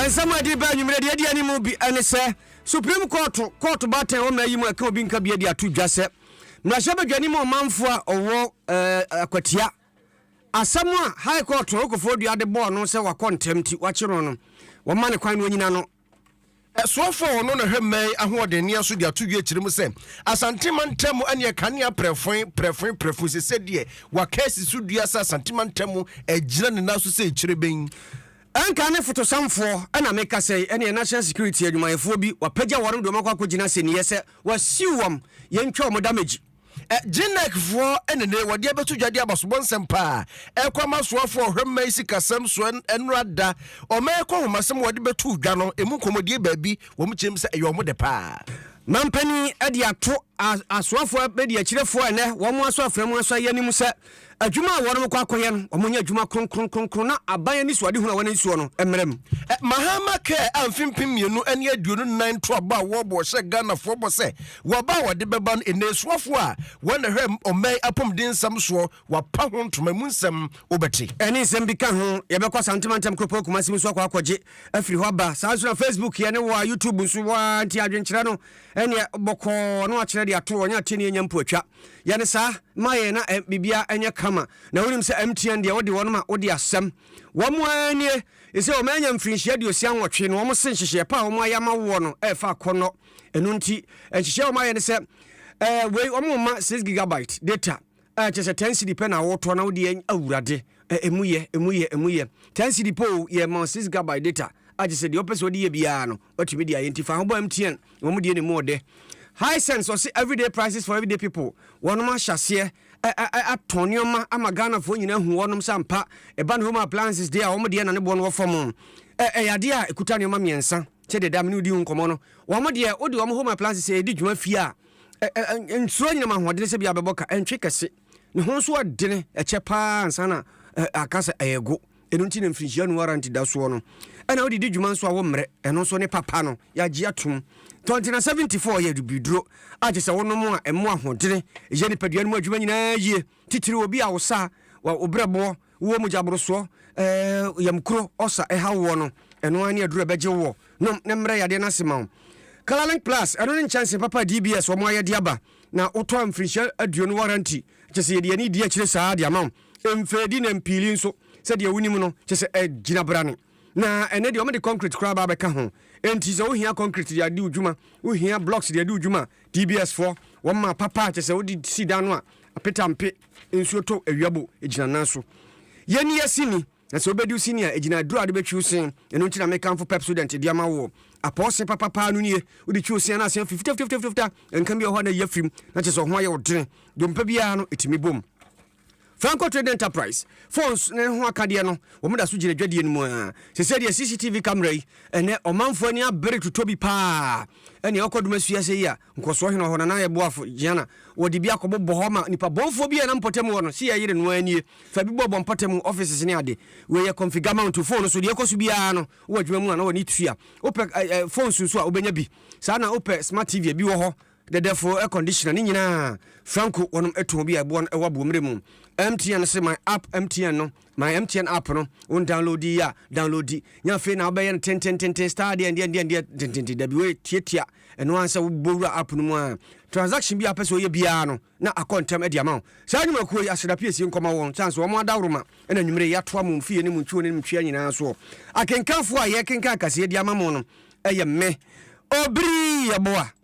nsɛm a ɛde ba anwummerɛ deɛ ɛdi anim bi ne sɛ supreme court court baatan wɔ mmara yi mu a ɛka obi nka bia de ato dwa sɛ mmarahyɛ badwani mu ɔmanfo a ɔwɔ eh, akwatia asɛm a high court ɔkɔfoɔ dua de bɔɔ no sɛ wakɔ ntɛm nti wakyerɛ no wɔma ne kwan no anyina no Ɛsoɔfo a ɔno na hwɛ mmɛn ahoɔden nea so de ato wie kyerɛ mu sɛ Asante mantam ɛneɛ kanea prɛfoe prɛfoe prɛfoe sɛ sɛ deɛ waka asi so dua sɛ Asante mantam agyina ne nan so sɛ kyerɛbɛn. Ɛnka ne fotosamfoɔ na meka sɛ yi ɛneɛ National Security adwumayɛfoɔ bi wapagya wɔn de wɔn akɔ akɔgyina asɛnniiɛ sɛ wasiw wɔn yɛntwa wɔn damage. Genekfoɔ ne ne wɔde abɛto dwa de aba sobɔ nsɛmpa a ɛkɔ ama soafoɔ ɔhwɛ mma yi sikasɛm so ɛno ada ɔma ɛkɔ nhomasɛm wɔde bɛto dwa no ɛmu nkɔmmɔdie baabi wɔn kyerɛm sɛ ɛyɛ wɔn de paa. Mampanin de ato asoafoɔ abɛdiakyirɛfoɔ a ɛnnɛ wɔn asɔ afra mu asɔ yɛn anim sɛ Adwuma a wɔrekɔ akɔyɛ no, wɔnyɛ adwuma kronkron kronkron na aban anisoadehu a wɔn ani soɔ no mmrɛ mu. Mahama kaa a mfe mpem mmienu ne aduonu nnan ntoabɔ a wɔrebɔ ɔhyɛɛ Ghanafoɔ bɔ sɛ wɔ aba a wɔde bɛba no nnesoafoɔ a wɔn na ɛhwɛ ɔman apɔmuden nsɛm soɔ wɔapa ho ntoma emu nsɛm wobɛte. Ɛne nsɛm bi ka ho. Yɛbɛkɔ Asante mantam kuropɔn Kumasi mu nso akɔ akɔgye afiri hɔ aba. Saa ara nso na Facebook yɛ ne wa, YouTube nso wa, nti adwenkyerɛ no ɛneɛ bɔkɔɔ na wakyerɛ de ato hɔ, ɔnyɛ ateɛ ne yɛnya mpo atwa. Yɛ no saa ma yɛn na biribiara nyɛ kama. Na wonim sɛ MTN deɛ wode wɔn ma wode asɛm. Wɔn ara nie, ɛsɛ wɔn anya mfirinhyia aduosia nwɔtwe na wɔn se nhyehyɛɛ pa a wɔn ayɛ ama woɔ no ɛrefa akɔnnɔ. Ɛno nti, nhyehyɛɛ wɔn ayɛ ne sɛ eh, wei wɔn mma 6 gigabyte data a kyɛ sɛ 10 cedi pɛ na wotɔ na wode awurade eh, ɛmu yɛ, ɛmu yɛ, ɛmu yɛ 10 cedi pɛ o, yɛ ma 6 gigabyte data a kyɛ sɛ deɛ ɔpɛ sɛ ɔde yɛ biara no. Watumi de ayɛ nti fa ho bɔ MTN wɔn deɛ ne mu ɔdɛ. Hisense ɔse everyday prices for everyday people wɔnom ahyɛ aseɛ atɔn nneɛma ama Ghanafoɔ nyinaa hu wɔnom sɛ ampa ɛba ne home appliances deɛ a wɔn deɛ na ne boɔ no wɔ fam ɛyɛ adeɛ a ɛkuta nneɛma mmiɛnsa sɛdeɛ da mene wodi ho nkɔmmɔ no wɔn deɛ wode wɔn home appliances ɛdi dwuma fie a nsuro nyinam ahoɔdene sɛ bia bɛbɔ ka ɛntwe kɛse ne ho nso ɔdene ɛkyɛ paa ansa na aka sɛ ɛyɛ go Ɛno nti na mfirinhyia nu ara nti da soɔ no ɛna wode di dwuma nso a wommrɛ ɛno nso ne papa no yɛagye atom tɔ nti na 74 yɛ dubiduro a kyɛ sɛ wonom a ɛmo ahoɔdene yɛ nipadua no mu adwuma nyinaa yie titiri obi a wosa wa wobrɛboɔ wowɔ mogyaborosoɔ ɛɛ yamkuro ɔsa ɛha woɔ no ɛno ara ne aduro ɛbɛgye woɔ nom ne mmerɛ yadeɛ no ase ma wo Kalalink Plus ɛno ne nkyɛnse papa DBS wɔn ayɛde aba na wotɔ mfirinhyia aduonu waranti kyɛ sɛ yɛde yɛne di akyire saa de ama wo Mfɛdi na mpiili nso, sɛdeɛ wonim no, kyerɛ sɛ agyinabrane. Na ɛnnɛ deɛ, wɔde concrete koraa aba abɛka ho. Enti sɛ wohia concrete de adi wo dwuma, wohia blocks de adi wo dwuma a, TBSfoɔ, wɔma papa a kyerɛ sɛ wode si dan no a, apetampe, nsuo tɔ awia bo, ɛgyina nan so. Yɛnni yɛn sini, na sɛ wobɛdi wo sini a, ɛgyina aduro a wode bɛtwi wo se. Ɛno nti na mekamfo Pepsodent de ama woɔ. Apɔw se papa paa no nie, wode twi wo se a na ase afi fitafitafitafita, nka bi wɔ hɔ a na ayi afiri mu, na kyerɛ sɛ wo ho ayɛ wo dene. Dompe biara no, ɛtumi bom. Franco Trading Enterprise phones ne ho akadeɛ no, wɔn da so gyina dwadie no mu ara. Sesei deɛ CCTV camera yi, ɛnɛ ɔmanfoɔ ani abere totɔ bi paa. Ɛnea ɔkɔ dom asua sɛ yi a, nkɔsoɔ he na ɔhɔ, Nana yɛ boafo, Gianna, wɔde bi akɔbobɔ hɔ ama nnipa bɔnfoɔ bi a na mpɔtam wɔ no, se yɛyere no ara nie, fa bi bɔbɔ mpɔtam offices ne ade. Wei yɛ configure mount to phone so, deɛ ɛkɔ so biara no, wowɔ adwuma mu a na w'ani tua. Wopɛ eh eh phones nso a, wobɛnya bi. Saa na wopɛ smart TV a, bi wɔ hɔ. Dɛdɛfo air conditioner ne nyinaa franco wɔnom ɛtɔn bi a ɛboa no ɛwɔ aboɔmmerɛ mu MTN se my app MTN no my MTN app no wɔn download yi a download yi nyɛ afei na wobɛyɛ no tentententen star deɛ deɛ deɛ deɛ tententen dabi wɔyɛ tiatia ɛno ansɛ wobɔ wura app no mu a transaction bi a pɛ sɛ ɔyɛ biara no na akɔ ntɛm ɛde ama wo saa nnwumakuo yi aseda piesie nkɔma wɔn sane sɛ wɔn adaworo ma ɛna nwummere yɛatoa mo mfie ne mo ntwiwo ne mo ntwea nyinaa soɔ akenkanfoɔ a yɛkenkan kaseɛ de ama mo no ɛyɛ me obiri yɛboa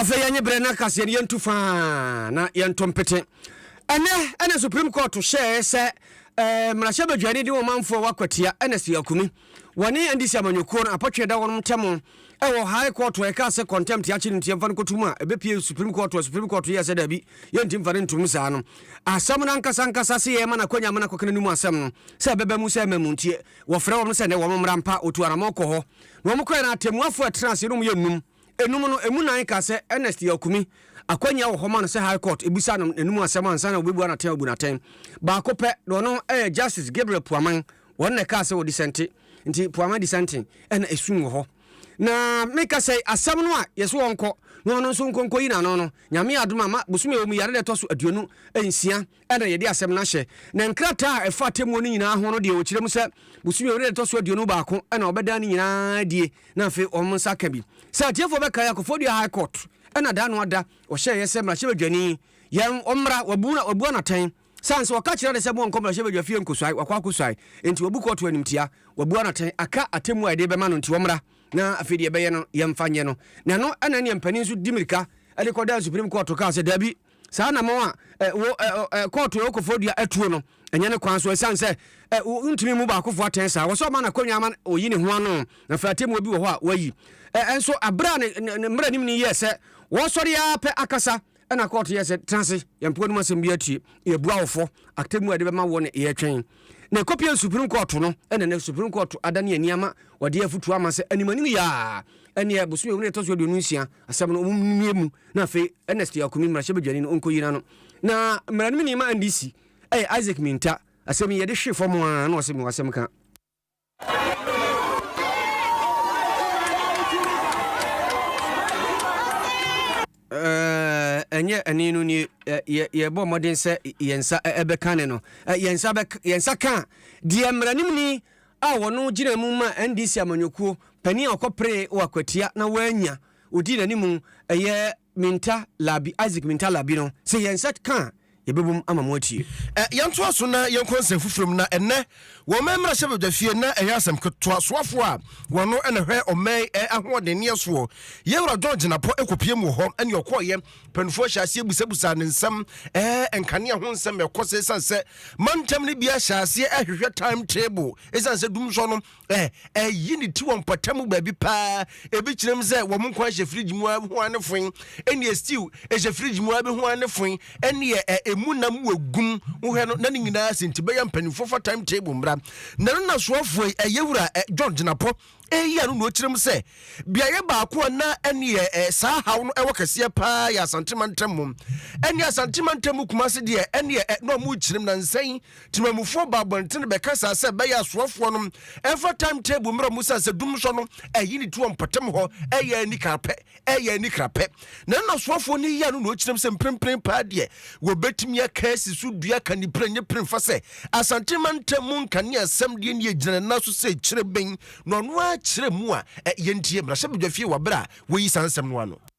afei yɛnye berɛ no akaseɛ no yɛntu faa na yɛnto mpete ɛnɛ ɛna supreme court hyɛɛ sɛ eh, mmarahyɛ badwani de wɔmanfoɔ wakwatia ɛna si akumi wɔne ndc amanyɔkuo no apɔtwe da wɔnom ntɛm Ɛwɔ High Court a ɛkaa sɛ contempt yɛakye no nti yɛmfa no kɔto mu a, ɛbɛpue Supreme Court a Supreme Court yɛɛ sɛ daabi, yɛnti mfa no ntom saa no. Asɛm no ankasa ankasa se yɛrema no akwanya ma no akɔka n'anom asɛm no sɛ ɛbɛba mu sɛ mmamu nti wɔfrɛ wɔnom sɛ nnɛ wɔn mmra mpa, wɔtu anamɔn kɔ hɔ na wɔn kɔɛ no atɛmmuafoɔ a ɛtenaa ase no wɔyɛ nnum. Nnum no, ɛmu nan kaa sɛ Ernest Yaokumi, akwannya wɔ hɔ ma no sɛ High Court ɛbisa no n'anom asɛm ansa na wɔbɛbua no atɛn abu no atɛn. Baako pɛ, na ɔno yɛ Justice Gabriel Puaman, Wɔn na ɛkaa sɛ wɔdisɛnte, nti po ama disɛnten, ɛna esum wɔ hɔ. Na meka sɛ asɛm no a yɛse wɔnkɔ na ɔno nso nkɔ nkɔyi n'ano no, Nyame yɛ adom a ma bosome a ɛwɔ mu yi, ada da ɛtɔ so aduonu nsia ɛna yɛde asɛm no ahyɛ. Na nkrataa a ɛfa atemmuo no nyinaa ho no deɛ wɔkyerɛ mu sɛ bosome a ɛwɔ mu no da ɛtɔ so aduonu baako ɛna wɔbɛdan ne nyinaa adie na afei wɔn nsa aka bi. Sɛ atiefoɔ bɛkae a, Kofodua High Court ɛna da ano ada ɔhyɛeɛ sɛ mmarahyɛbadwani yɛn ɔmmra, wɔabu no atɛn. San sɛ wɔka kyerɛ no sɛ monkɔ mmarahyɛbadwa fie nkosuae, wakɔ akosuae, enti wabu kɔɔto animtia, wabua no atɛn, aka atemmu a yɛde bɛma no nti ɔmmra, na afei deɛ ɛbɛyɛ no yɛmfa nyɛ no. Na ɛno na ɛne mpanin nso di mirika de kɔdaa Supreme Court kaa sɛ daabi, saa anammɔn a eh, wo eh, oh, eh, kɔɔto ɛwɔ kɔfɔdua atuo no, ɛnyɛ ne kwan so, ɛsiane sɛ eh, wontumi mmu baakofoɔ atɛn saa, wɔsɛ ɔma no akonnwa ama ɔyi ne ho ano, na afei atemmuo bi wɔ hɔ a wayi. Eh, ɛnso, aberɛ a ne, ne, ne mmaranim no yɛɛ sɛ wɔsɔre ara pɛ akasa, Ɛna kɔɔto yɛ sɛ tena ase, yɛn mpoa no mu asɛm bi atie, yɛbua wo fɔ, atemmu a yɛde bɛma woɔ ne yɛtwɛn. Na ɛkɔpie Supreme Kɔɔto no, ɛna nɛ Supreme Kɔɔto adane ani ama wɔde afutuo ama sɛ anim anim yɛ a, ɛneɛ bosome wei na ɛtɔ so aduonu nsia asɛm no wɔn mmie mu na afei Ernest Akumi mmarahyɛ badwani no ɔnkɔyi n'ano. Na mmara no mu ni ma NDC ɛyɛ Isaac Minta, asɛm yi yɛde hwe fam a na ɔse mewɔ asɛm ka. ɛnyɛ ɛne no nie yɛbɔ mmɔden sɛ yɛn nsa ɛbɛka ne no yɛn nsa yɛn nsa ka deɛ mmaranimni a wɔno gyina mu ma ndc amanyɔkuo panin a ɔkɔpere wɔ akwatia na wɔanya ɔdi n'anim ɛyɛ Minta Labi, Isaac Minta Labi no, sɛ yɛn nsa ka a, yɛbɛbom ama moatie. Ɛ, yɛntoa so na yɛnkɔ nsɛm foforɔ mu, na ɛnnɛ, wɔ ɔman mmarahyɛbadwafie, na ɛyɛ asɛmtoa soafoɔ a wɔno na ɛhwɛ ɔman ɛ ahoɔdenneɛ soɔ, yɛn Wura John Jinapɔ ɛkɔpiem wɔ hɔ, ɛne ɔkɔɔeɛ, mpaninfoɔ hyɛɛ aseɛ busabusaa no nsɛm ɛ, nkanea ho nsɛm ɛkɔ sɛ, ɛsiane sɛ mantam no biara hyɛɛ aseɛ ɛhwehwɛ time table, ɛsiane sɛ dumsɔ no ɛyi ne ti wɔ mpɔtam mu baabi paa ebi kyerɛ mu sɛ wɔn nkwa hyɛ fridge mu ho ano fon ɛnneɛ stew ɛhyɛ fridge mu abɛho ano fon ɛnneɛ ɛmu nam wɔ gum wohwɛ no na ne nyinaa sɛ nti bɛyɛ mpanimfoɔ fa time table mmra na no nasoafoɔ yi ɛyɛ wura john gyinapɔ ɛyi ano na ɔkyerɛ mu sɛ beaeɛ baako a na ɛneɛ saa haw no ɛwɔ kɛseɛ paa yɛ asantema ntam mu ɛne asantema ntam mu kuma se deɛ ɛneɛ na ɔmo kyerɛ mu na nsɛn Temamufoɔ ba abɔntene bɛka saa sɛ ɛbɛyɛ asoafoɔ no ɛmfa time table mmerɛ mu sane sɛ dum sɔ no ɛyi ne ti wɔ mpɔtam hɔ ɛyɛ ani krapɛ ɛyɛ ani krapɛ na ɛna asoafoɔ no yɛ no na ɔkyinam sɛ mprempren paa deɛ wɔbɛtumi aka asi so dua ka ne pire nye pire mfa sɛ asante mantam mu nkane asɛm deɛ ne ɛgyina ne nan so sɛ kyerɛ bɛn na ɔno ara kyerɛ mu a yɛntie mmarahyɛbadwafie wɔ berɛ a wɔyi saa nsɛm no ano.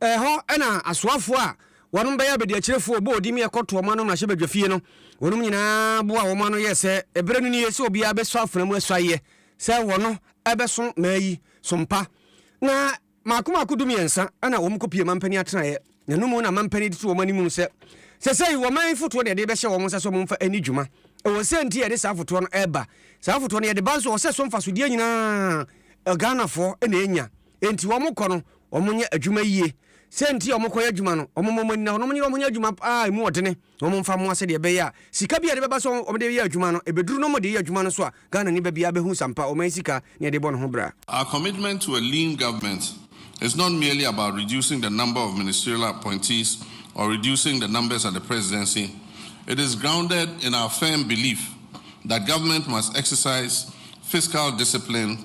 Ɛhɔ na asoafoɔ a wɔnom bɛyɛ abadiakyirefoɔ bɔɔ din yɛ kɔtoo wɔn ano mmarahyɛbadwafie no, wɔnom nyinaa boaa wɔn ano yɛɛ sɛ ɛberɛ no nie sɛ obiara bɛsɔ afena mu asuaeɛ sɛ wɔno ɛbɛso mmaa yi so mpa. Na maako maako dumiɛnsa na wɔn kɔpie mampanin atenaeɛ, na ɛno mu na mampanin de to wɔn animu sɛ, Sɛsɛi wɔman yi fotoɔ na yɛde rebɛhyɛ wɔn nsa sɛ wɔn mfa ɛni dwuma. Ɛwɔ sɛ nti yɛde saa fotoɔ no ɛreba. Saa fotoɔ no yɛde ba nso wɔ sɛ so mfasodeɛ nyinaa Ghanafoɔ na ɛnya. Enti wɔkɔ no, wɔnyɛ adwuma yiye. Sɛ nti a wɔkɔyɛ adwuma no, wɔmmɔ wɔn ani na wɔnyere wɔn ho nyɛ adwuma a emu yɛ dene na wɔmfa mmoa sɛdeɛ ɛbɛyɛ a sika bi a ɛde bɛba sɛ wɔde reyɛ adwuma no, ɛbɛduru na wɔde yɛ adwuma no so a Ghanani ba biara bɛhu sampa ɔman sika ne ɛde bɔ ne ho bra. Our commitment to a lean government is not merely about reducing the number of ministerial appointees or reducing the numbers at the presidency, it is grounded in our firm belief that government must exercise fiscal discipline,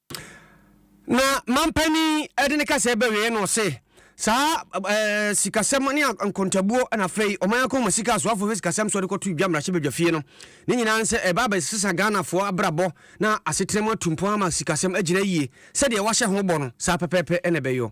Na mampanin de ne kasaɛ bɛwee na ɔse, Saa eh, sikasɛm ne nkontabuo na afei ɔman akɔma sika asoafoɔ hwɛ sikasɛm soɔ de kɔto dwa mmarahyɛbadwafie no. Ne nyinaa nsɛ ɛba abɛsesa Ghanafoɔ abrabɔ na asetena mu atu mpɔn ama sikasɛm agyina yie. Sɛdeɛ wɔahyɛ ho bɔ no, saa pɛpɛɛpɛ na ɛbɛyɔ.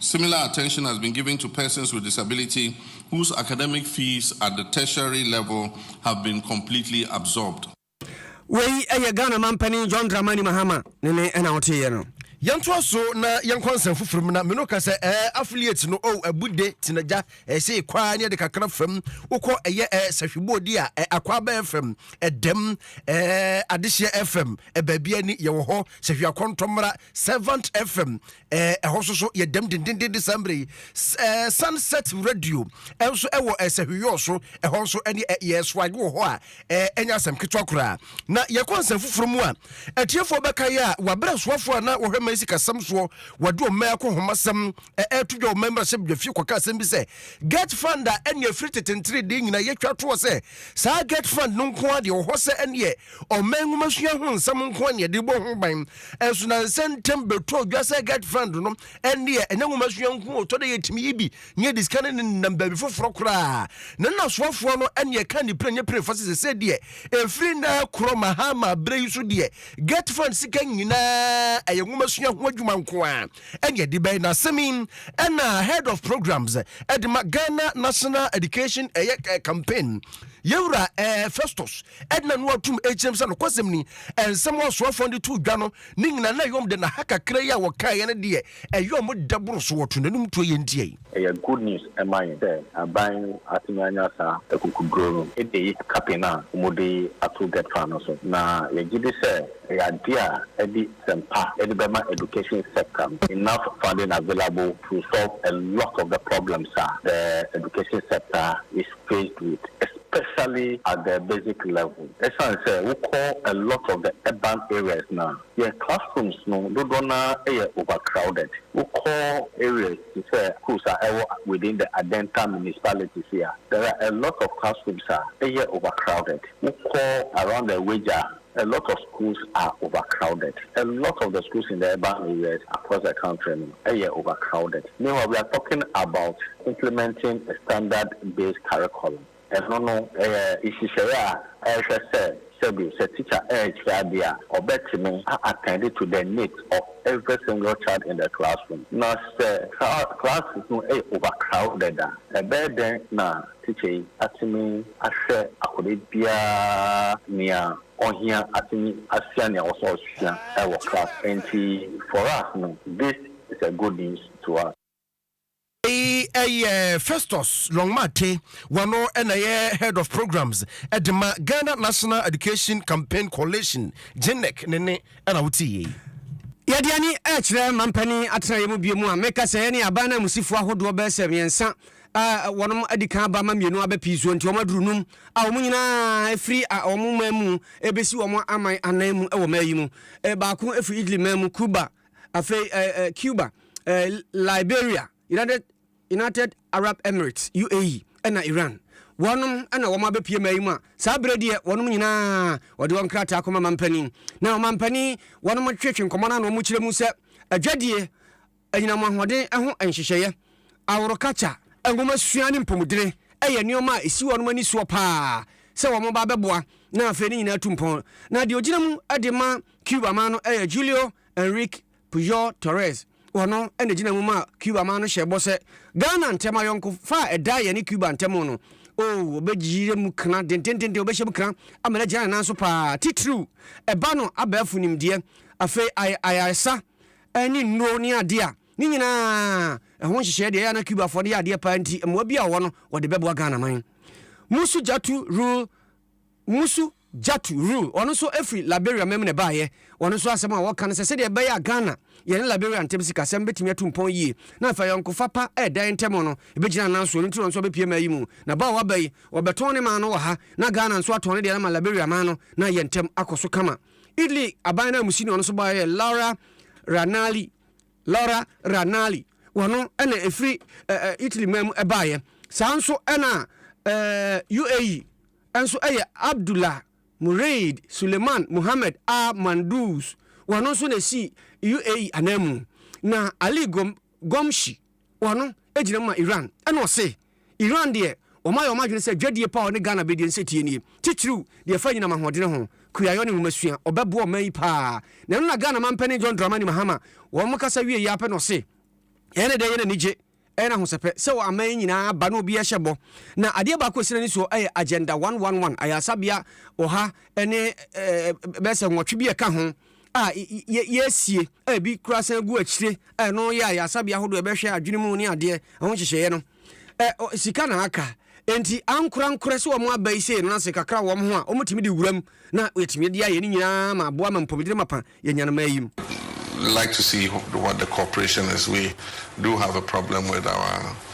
Similar attention has been given to persons with disability whose academic fees at the tertiary level have been completely absorbed. Wei yɛ Ghana Mampanin John Dramani Mahama ne ne ɛna woteeɛ no. Yɛntoa so na yɛnkɔ nsɛm foforɔ mu na me no ka sɛ ɛɛ affiliate no oh abude tenagya ɛɛ sei kwaa ne ɛde kakra fam wokɔ ɛyɛ ɛɛ sahwebɔɔdi a ɛɛ akwaba fm ɛdɛm ɛɛ adehyeɛ fm baabi ani yɛwɔ hɔ sɛ hwɛ akɔntɔ mmara servant fm ɛhɔ so so yɛdam dendenden de saa mmerɛ yi sunset radio nso ɛwɔ sɛ hweyɔɔ so ɛhɔ nso ɛne yɛsoage wɔ hɔ a ɛnyɛ asɛm ketewa koraa na yɛkɔ nsɛm foforɔ mu a atiefoɔ bɛka yɛ a wabrɛ asoafoɔ a na wɔhwɛ ma sikasɛm soɔ wɔde ɔma akɔ homasɛm ɛto dwa ɔma mmarahyɛ bdwafie kɔka asɛm bi sɛ get fund a ɛne afiri tetentere deɛ nyina yɛtwa toɔ sɛ saa get fund no nko a deɛ ɔhɔ sɛ ɛneɛ Ɔman nwomasua ho nsɛm nko na yɛde bɔ ho ban, nso na nsɛ ntɛm bɛtɔ odwa sɛ Get Friend no ɛndeɛ ɛnyɛ nwomasua nko ɔtɔ da yɛtumi yi bi na yɛde sika no nenam baabi foforɔ koraa. Ne nnasoafoɔ no ɛne ɛka nipere nyɛ pere fa sɛ sɛsɛ deɛ ɛfiri nnɛ korɔ Mahama berɛ yi so deɛ Get Friend sika nyinaa ɛyɛ nwomasua ho adwuma nko ara ɛne ɛde bɛyɛ. N'asɛm yi ɛna Head of Programs ɛde ma Ghana National Education ɛyɛ campaign Yɛwura Festus Edna no ara tum kyerɛm sɛ nokwasɛm ni, nsɛm a ɔsoafoɔ no de too dwa no ne nyinaa na ɛyɛ wɔn dɛ na ha kakra yi a wɔkaeɛ no deɛ ɛyɛ wɔn dɛ boro so, wɔtoo n'anom tuo yɛn nti ei. Ɛyɛ good news ma yɛn sɛ aban yi atumi anya saa akukuduro no de ayi kapee no a wɔde ato Gert Far no so, na yɛgyedi sɛ ɛyɛ adeɛ a ɛde system pa de bɛma education sector no enough funding available to resolve a lot of the problems a the education sector is faced with especially at the basic level. Ɛsiane sɛ wokɔ a lot of the urban areas no a, yɛn classrooms no dodoɔ no ara yɛ overcrowded. Wokɔ areas te sɛ schools a ɛwɔ within the Adenta municipalities yi a, there are a lot of classrooms a ɛyɛ overcrowded. Wokɔ around the Weija A lot of schools are overcrowded, a lot of the schools in the urban areas across the country no yɛ overcrowded, meanwhile we are talking about implementing a standard based curriculum, ɛno no ɛyɛ nhyehyɛeɛ a ɛrehwɛ sɛ sɛbi sɛ teacher ɛrekyerɛ adeɛ a ɔbɛtumi a attend to the needs of every single child in the classroom, na sɛ saa classes no yɛ overcrowded a ɛbɛyɛ dɛn na Tekyɛ yi atumi ahwɛ akɔda biara nea ɔhia atumi asua nea ɔwɔ sɛ ɔsua wɔ class nti for us no this is a good news to us. Wei yɛ Festus Longmate, wɔno na ɛyɛ Head of Programs de ma Ghana National Education Campaign Coalition, GNEC, ne nne na wotee yei. Yɛde ani rekyerɛ mampanin atenaeɛ mu bio a meka sɛ yɛne aban nanmusifo ahodoɔ bɛyɛ sɛ mmiɛnsa a wɔnom adi kan aba ma mmienu aba pii soɔ nti wɔn aduru num a wɔn nyinaa efiri a wɔn man mu ebesi wɔn aman anan mu wɔ mmaa yi mu eh, baako efiri Italy man mu Cuba afei eh, eh, Cuba eh, Liberia United United Arab Emirates UAE ɛna Iran wɔnom ɛna wɔn abɛpie mmaa yi mu a saa berɛ deɛ wɔnom nyinaa wɔde wɔn krataa kɔma mampanin na ɔmampanin wɔnom twetwe nkɔmɔ no na wɔn kyerɛ mu sɛ adwadie Anyinam ahoɔden ho nhyehyɛeɛ, aworo kakya, nwomasua ne mpomudene yɛ nneɛma a ɛsi wɔnom ani soɔ pa ara sɛ wɔn ba bɛboa na afei ne nyinaa tu mpɔn. Na deɛ ɔgyina mu de ma Cuba man no yɛ Julio Enrique Pujol Torres. Ɔno na ɛgyina mu ma Cuba man no hyɛ bɔ sɛ Ghana ntɛm ayɔnkofa a ɛda yɛne Cuba ntɛm no, oh, ɔbɛgyina mu kena dendendenden, ɔbɛhyɛ mu kena ama no agyina ne nan so pa ara, titiriw ɛba no abɛɛfo nimdeɛ, afei ayɛ ayaresa. ne nnuro ne adeɛ a ne nyinaa ɛho nhyehyɛɛ deɛ ɛyɛ a na Cubafoɔ no yɛ adeɛ paa nti mmoa bi a wɔwɔ no wɔde bɛboa Ghana man. Musu Jatu Rule Musu Jatu Rule ɔno nso ɛfiri Liberia mam na ɛbaeɛ. Ɔno nso asɛm a wɔka no sɛ sɛdeɛ ɛbɛyɛ a Ghana yɛne Liberia ntam sikasɛm bɛtumi atu mpɔn yie na afei ayɔnkofa pa ɛreda yɛn ntam no ɛbɛgyina nan so ɛno nti na ɔno nso ɔbɛpie maa yi mu na ba a waba yi wɔbɛtɔn ne man no wɔ ha na Ghana nso atɔn ne deɛ no ama Liberia man no na yɛn ntam akɔ so kama. Italy aban no a musini ɔno nso baeɛ yɛ Laura Ranalli Laura Ranalli wɔn no ɛna ɛfiri ɛɛ Italy man mu ɛbaeɛ saa nso ɛna ɛɛ UAE nso ɛyɛ Abdullah Muraid Suleiman Mohammed Al Mandous wɔn no nso na ɛsi UAE ananmu na Ali Gom Gomshi, ɔno gyina mu ma Iran, ɛna ɔse, Iran deɛ wɔayɛ wɔn adwene sɛ dwadie pa a ɔne Ghana bɛdie nso tie nie, titiriw deɛ ɛfa anyinam ahoɔdene ho, kuayɔ ne nwomasua, ɔbɛboa ɔman yi pa ara. Na ɛno na Ghana manpanin John Dramani Mahama, wɔn kasa wieeɛ ara pɛ na ɔse, Ɛyɛ ne dɛ, ɛyɛ no anigye, ɛyɛ no ahosɛpɛ sɛ wɔ aman yi nyinaa aba na obiara hyɛ bɔ, na adeɛ baako a ɛsi n'ani soɔ yɛ Agenda One One One, ayaresabea ɔha ne bɛyɛ sɛ nwɔtwe bi a ɛka ho, a yɛasie a ebi kura san gu akyire a ɛno yɛ a yɛasabea ahodoɔ ɛbɛhwɛ adwene mu ne adeɛ ɛho nhyehyɛeɛ no sika na aka nti ankorankorɛ sɛ wɔn aba yi sei no ase kakra wɔn ho a wɔtumi de wuram na yɛtumi de ayɛ ne nyinaa ma aboa ma mpɔmudere mapa yɛnya no ma ayim. like to see what the corporation is we do have a problem with our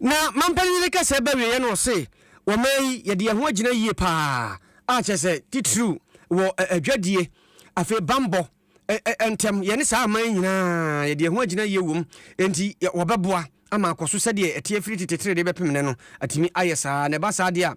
Na mampanin no rekasa ba wieɛ no ɔse wɔman yi yɛde yɛn ho agyina yie paa a kyerɛ sɛ titiriw wɔ adwadie afei bambɔ ntɛm yɛne saa aman nyinaa yɛde yɛn ho agyina yie wom enti wɔbɛboa ama akɔ so sɛdeɛ ɛteɛ firi tete tere de bɛpem nɛ no atumi ayɛ saa na ɛba saa deɛ a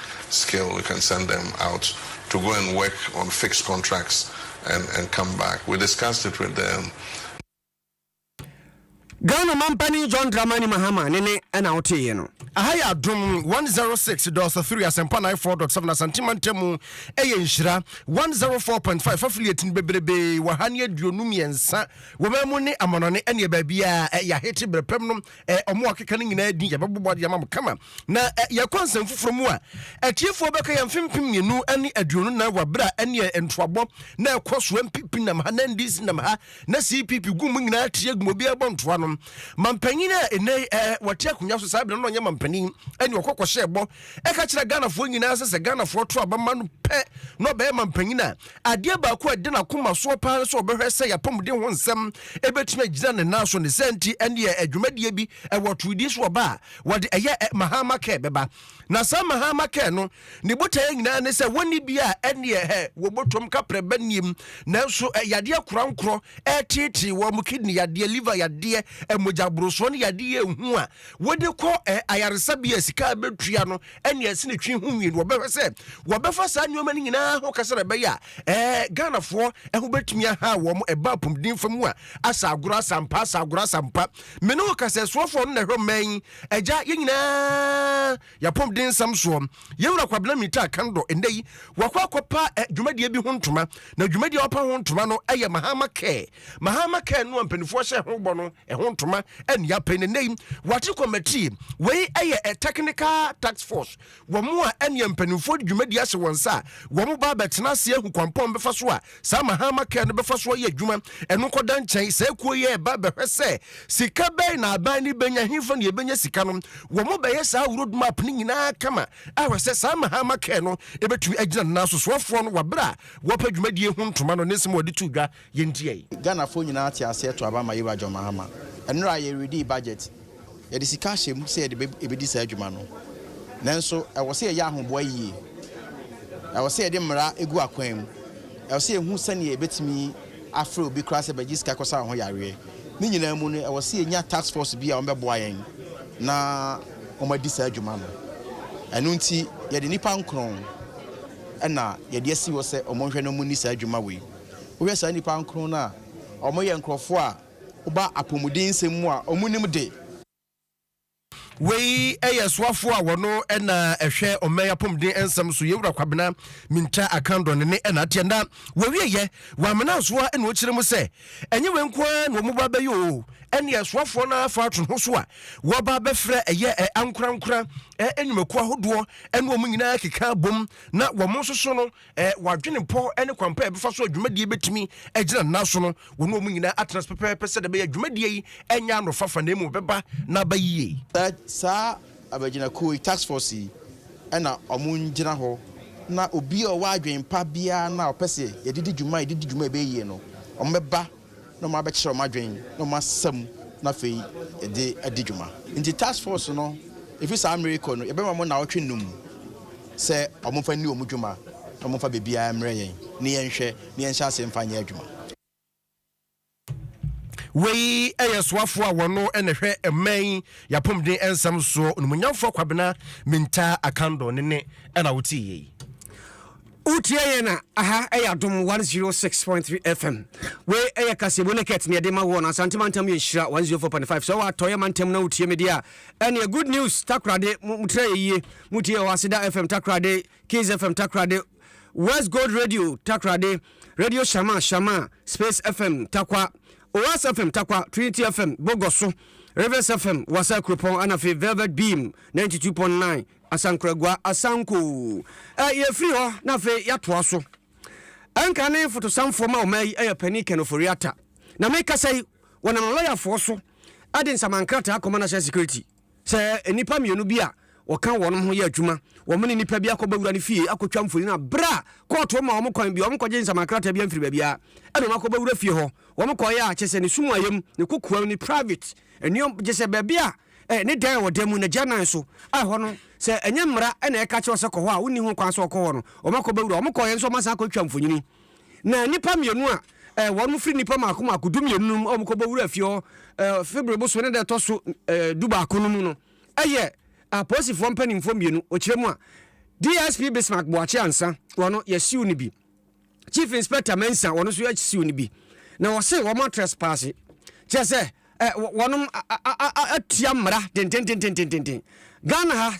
skill we can send them out to go and work on fixed contracts and and come back we discussed it with the. Ghana mampanin John Dramani Mahama ne ne ɛna woteeɛ no. Aha yɛ adom 106 dɔɔso 3 asɛmpa 94.7 Asante mantamu ɛyɛ nhyira 104.5 affiliate no bebrebee wɔ ha ne aduonu mmiɛnsa wɔ ma mu ne amanɔne ɛne baabiaa ɛyɛ ahete berɛpɛm no eh, ɔmo a ɔkeka no nyinaa din yɛbɛbobɔ de ama mo kama na eh, yɛkɔ nsɛm foforɔ mu a atiefoɔ bɛka yɛ mfe mpem mmienu ne aduonu na wɔ berɛ a ɛneɛ ntoabɔ na ɛkɔ so mpp nam ha na ndc nam ha na cpp gu mu nyinaa te agu mu obiara bɔ ntoa no mampanyin a ɛnɛ eh, wɔte akonnwa so saa berɛ no ɔnyɛ mampanin ɛne ɔkɔkɔhyɛ ɛbɔ ɛka kyerɛ ghanafoɔ nyinaa sɛ sɛ ghanafoɔ to abama no pɛ na ɔbɛyɛ mampanyin a Adeɛ baako a ɛda n'akoma soɔ paa ne sɛ ɔbɛhwɛ sɛ y'apɔmuden ho nsɛm bɛtumi agyina ne nan so. Ne saa nti, ɛnneɛ dwumadie bi wɔ Tweedi so wɔ ba a wɔde ɛyɛ Mahatma Care bɛba. Na saa Mahatma Care no, ne botaeɛ nyinaa ne sɛ wɔnni bi a ɛnneɛ hɛ, wɔbɔtɔm ka prɛba nnim. Nanso yadeɛ korankorɔ reteetee wɔn, kidney yadeɛ, liver yadeɛ, mogya borosoɔ ne yadeɛ a ɛhu a wɔde kɔ ayaresabea a sika a bɛtua no ɛne ɛsi ne twi ho nwi no wɔbɛhwɛ sɛ wɔbɛfa saa nneɛma no nyinaa ho kasa na ɛbɛyɛ a ɛɛ ghanafoɔ ɛho bɛtumi aha wɔn ɛba apɔmuden fam a asa agorɔ asampa asa agorɔ asampa mene wo kasa ɛsoɔfoɔ no na ɛhwɛ mmaa yi agya yɛn nyinaa yɛapɔmuden nsɛm soɔ yɛwura kwabena mita kan dɔ ɛnɛ yi wakɔ akɔpa eh, dwumadie bi ho ntoma na dwumadie a wɔpa ho ntoma no ɛyɛ mahama kɛɛ mahama kɛɛ no a mpanimfoɔ hyɛ ho bɔ no Ɛho ntoma ani apɛ na nnɛ yi wɔate kɔmati wei yɛ a technical task force wɔn a ɛne mpanimfoɔ de dwumadi ahyɛ wɔn nsa a wɔn ba abɛtena ase ahu kwampɔn bɛfa so a saa mahama kɛɛ no bɛfa so ayɛ adwuma ɛno nkɔda nkyɛn saa kuo yi ɛba bɛhwɛ sɛ sika bɛn na aban no bɛnya hefa ne ɛbɛnya sika no wɔn bɛyɛ saa road map no nyinaa kama ahwɛ sɛ saa mahama kɛɛ no ɛbɛtumi agyina no na sosoɔfoɔ no wɔabrɛ a wɔpɛ dwumadie ho ntoma no ne nsɛm wɔde to dwa Yɛn dua yi. Ghana foɔ nyinaa te aseɛ to aba ma Yewa John Mahama. Ɛnora yɛ redii budget. Yɛde sika ahyɛ mu sɛ yɛde bɛ ɛbɛdi saa adwuma no. Nanso ɛwɔ sɛ yɛyɛ ahoboa yie. Ɛwɔ sɛ yɛde mmara ɛgu akwan mu. Ɛwɔ sɛ yɛhu sɛdeɛ yɛbɛtumi afrɛ obi koraa sɛ bɛgye sika kɔsa wo ho yareɛ. Ne nyinaa mu no ɛwɔ sɛ yɛnya task force bi a wɔn bɛboa yɛn na wɔn adi saa adwuma no. Ɛno nti yɛde nnipa nkron ɛna yɛde asi hɔ sɛ wɔn nhwɛ na wɔn nni saa adwuma wei. Wohwɛ saa nnipa nkron no a, wɔyɛ nkurɔfoɔ a wɔba apɔmuden nsɛm mu a wɔnim de. Wei yɛ soafoɔ a wɔn na ɛhwɛ ɔman apɔmuden nsɛm so, Yewura Kwabena Mintah Akandor ne ne na ateɛ. Na wɔawieɛ, wɔamena nsoa na wɔkyerɛ mu sɛ, ɛnyɛ wei nko ara na wɔn ba abɛyɛ o, ɛnneɛ soafoɔ no ara fa to ho so a wɔba abɛfrɛ ɛyɛ ankorankora nnwumakuo ahodoɔ ne wɔn nyinaa keka abom na wɔn nso so no, eh, wadwene pɔ ne kwampa a ɛbɛfa so a dwumadie bɛtumi agyina nna so no wɔne ɔmu nyinaa atena so pɛpɛɛpɛ sɛ dɛ bɛyɛ dwumadie yi ɛnyɛ anofafa na mmom bɛba na aba yie saa abagyinakuo yi task force yi ɛna ɔmo ngyina hɔ na obi a ɔwɔ adwen pa biara na ɔpɛ sɛ yɛde di dwuma yɛde di dwuma ɛbɛyɛ yie no ɔmo bɛba na wɔabɛkyerɛ wɔn adwene na wɔn asɛm na afei yɛde adi dwuma. Nti task force no ɛfiri saa mmerɛ yi kɔ no yɛbɛma wɔn nnawɔtwe nnum sɛ wɔmfa nni wɔn dwuma na wɔmfa baabiara mmerɛ yɛn na yɛnhwɛ na yɛnhyɛ aseɛ mfa nyɛ adwuma. Wei yɛ soafoɔ a wɔno na ɛhwɛ mmɛn yɛapɔmuden ɛnsɛm soɔ, Onumunyamfoɔ Kwabena Mintaa Akandor ne ne ɛna wotie yei. Wotie yɛn a, aha ɛyɛ Adom 106.3 FM. Wei ɛyɛ kaseɛbɔ ne kɛt ne ɛde ma woɔ no Asante mantam yɛ nhyira 104.5. Sɛ wɔ atɔeɛ mantam na wotie me deɛ a, ɛneɛ good news Takorade mo motrɛ yɛ yie. Motie wɔ Aseda FM Takorade, Kings FM Takorade, West Gold Radio Takorade, Radio Shama Shama, Space FM Takwa, Oas FM Takwa, Trinity FM Bogoso, Rivers FM Wasa Kuropɔn, ɛna afei Velvet Beam 92.9. Asankoragua Asanko. Ɛ, yɛfiri hɔ na afei yɛatoa so. Ɛnka ne fotosanfoɔ ma ɔman yi yɛ Panin Ken Ofori-Atta. Na mekasa yi, wɔnam lɔyafoɔ so de nsamankrataa akɔma National Security sɛ nnipa mmienu bi a wɔka wɔn ho yɛ adwuma, wɔn ne nnipa bi akɔbɔ wura no fie akɔtwa mfoni na berɛ a kɔɔto ma wɔn kwan bi, wɔkɔgye nsamankrataa bi mfiri baabiara ɛna wɔn akɔbɔ wura fie hɔ. Wɔn kɔeɛ a kyerɛ sɛ ne sumayam, ne kokoam, ne private. Nneɛm, gye sɛ baabi a eh, ne dan a ɛwɔ dan mu, n'agya nan so, a ɛhɔ no, sɛ ɛnyɛ mmara na ɛka kyerɛ wo sɛ kɔ hɔ a, wonni ho kwan sɛ wɔkɔ hɔ no, wɔakɔ bɛwura. Wɔn kɔeɛ nso, wɔasan akɔtwa mfonini. Na nnipa mmienu a eh, wɔn firi nnipa mmaako mmaako du mmienu no mu a wɔkɔ bɛwura fie hɔ eh, February bosome ne da ɛtɔ so eh, du baako no mu no, ɛyɛ apolisifoɔ mpanimfoɔ mmienu, ɔkyerɛ mu a DSP Bismarck Boakye Ansah, wɔn no, yɛsiw no bi. Chief Inspector Mensah wɔn nso asiw no bi na wɔse wɔn atrɛspaase kyerɛ sɛ eh, wɔnom atua mmara dendendendendenden Ghana ha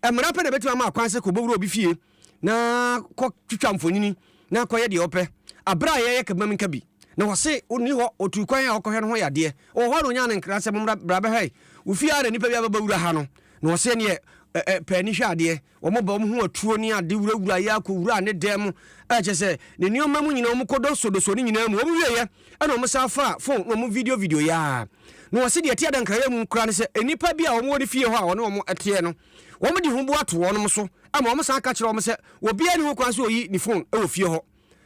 eh, mmara pɛ na ɛbɛtumi ama akwan sɛ kɔbɔwura obi fie na kɔtwitwa mfonini na kɔyɛ deɛ ɔpɛ aberɛ a yɛyɛ kabam nka bi na wɔse ɔni hɔ ɔtuu kwan a ɔkɔhwɛ no ho yadeɛ wɔ hɔ a na ɔnya no nkra sɛ mommra bra bɛhwɛ wo fie a na nnipa bi abɛbɛwura ha no na wɔse neɛ eh, eh, pɛ ani hwɛ adeɛ Wɔbɔ wɔn ho atuo ne ade wurawura yɛ kɔwuraa ne dan mu, a ɛkyerɛ sɛ ne nneɛma mu nyinaa, wɔkɔdɔsodɔsoo ne nyinaa mu. Wɔwieeɛ na wɔsan faa fon na wɔvideovideoeɛ ara. Na wɔse deɛ ɛte adankaeɛ mu koraa ne sɛ, nnipa bi a wɔwɔ ne fie hɔ a ɔne wɔn teɛ no, wɔde huboa to wɔn so ma wɔsan ka kyerɛ wɔn sɛ obiara nni ho kwan sɛ ɔyi ne fon wɔ fie hɔ.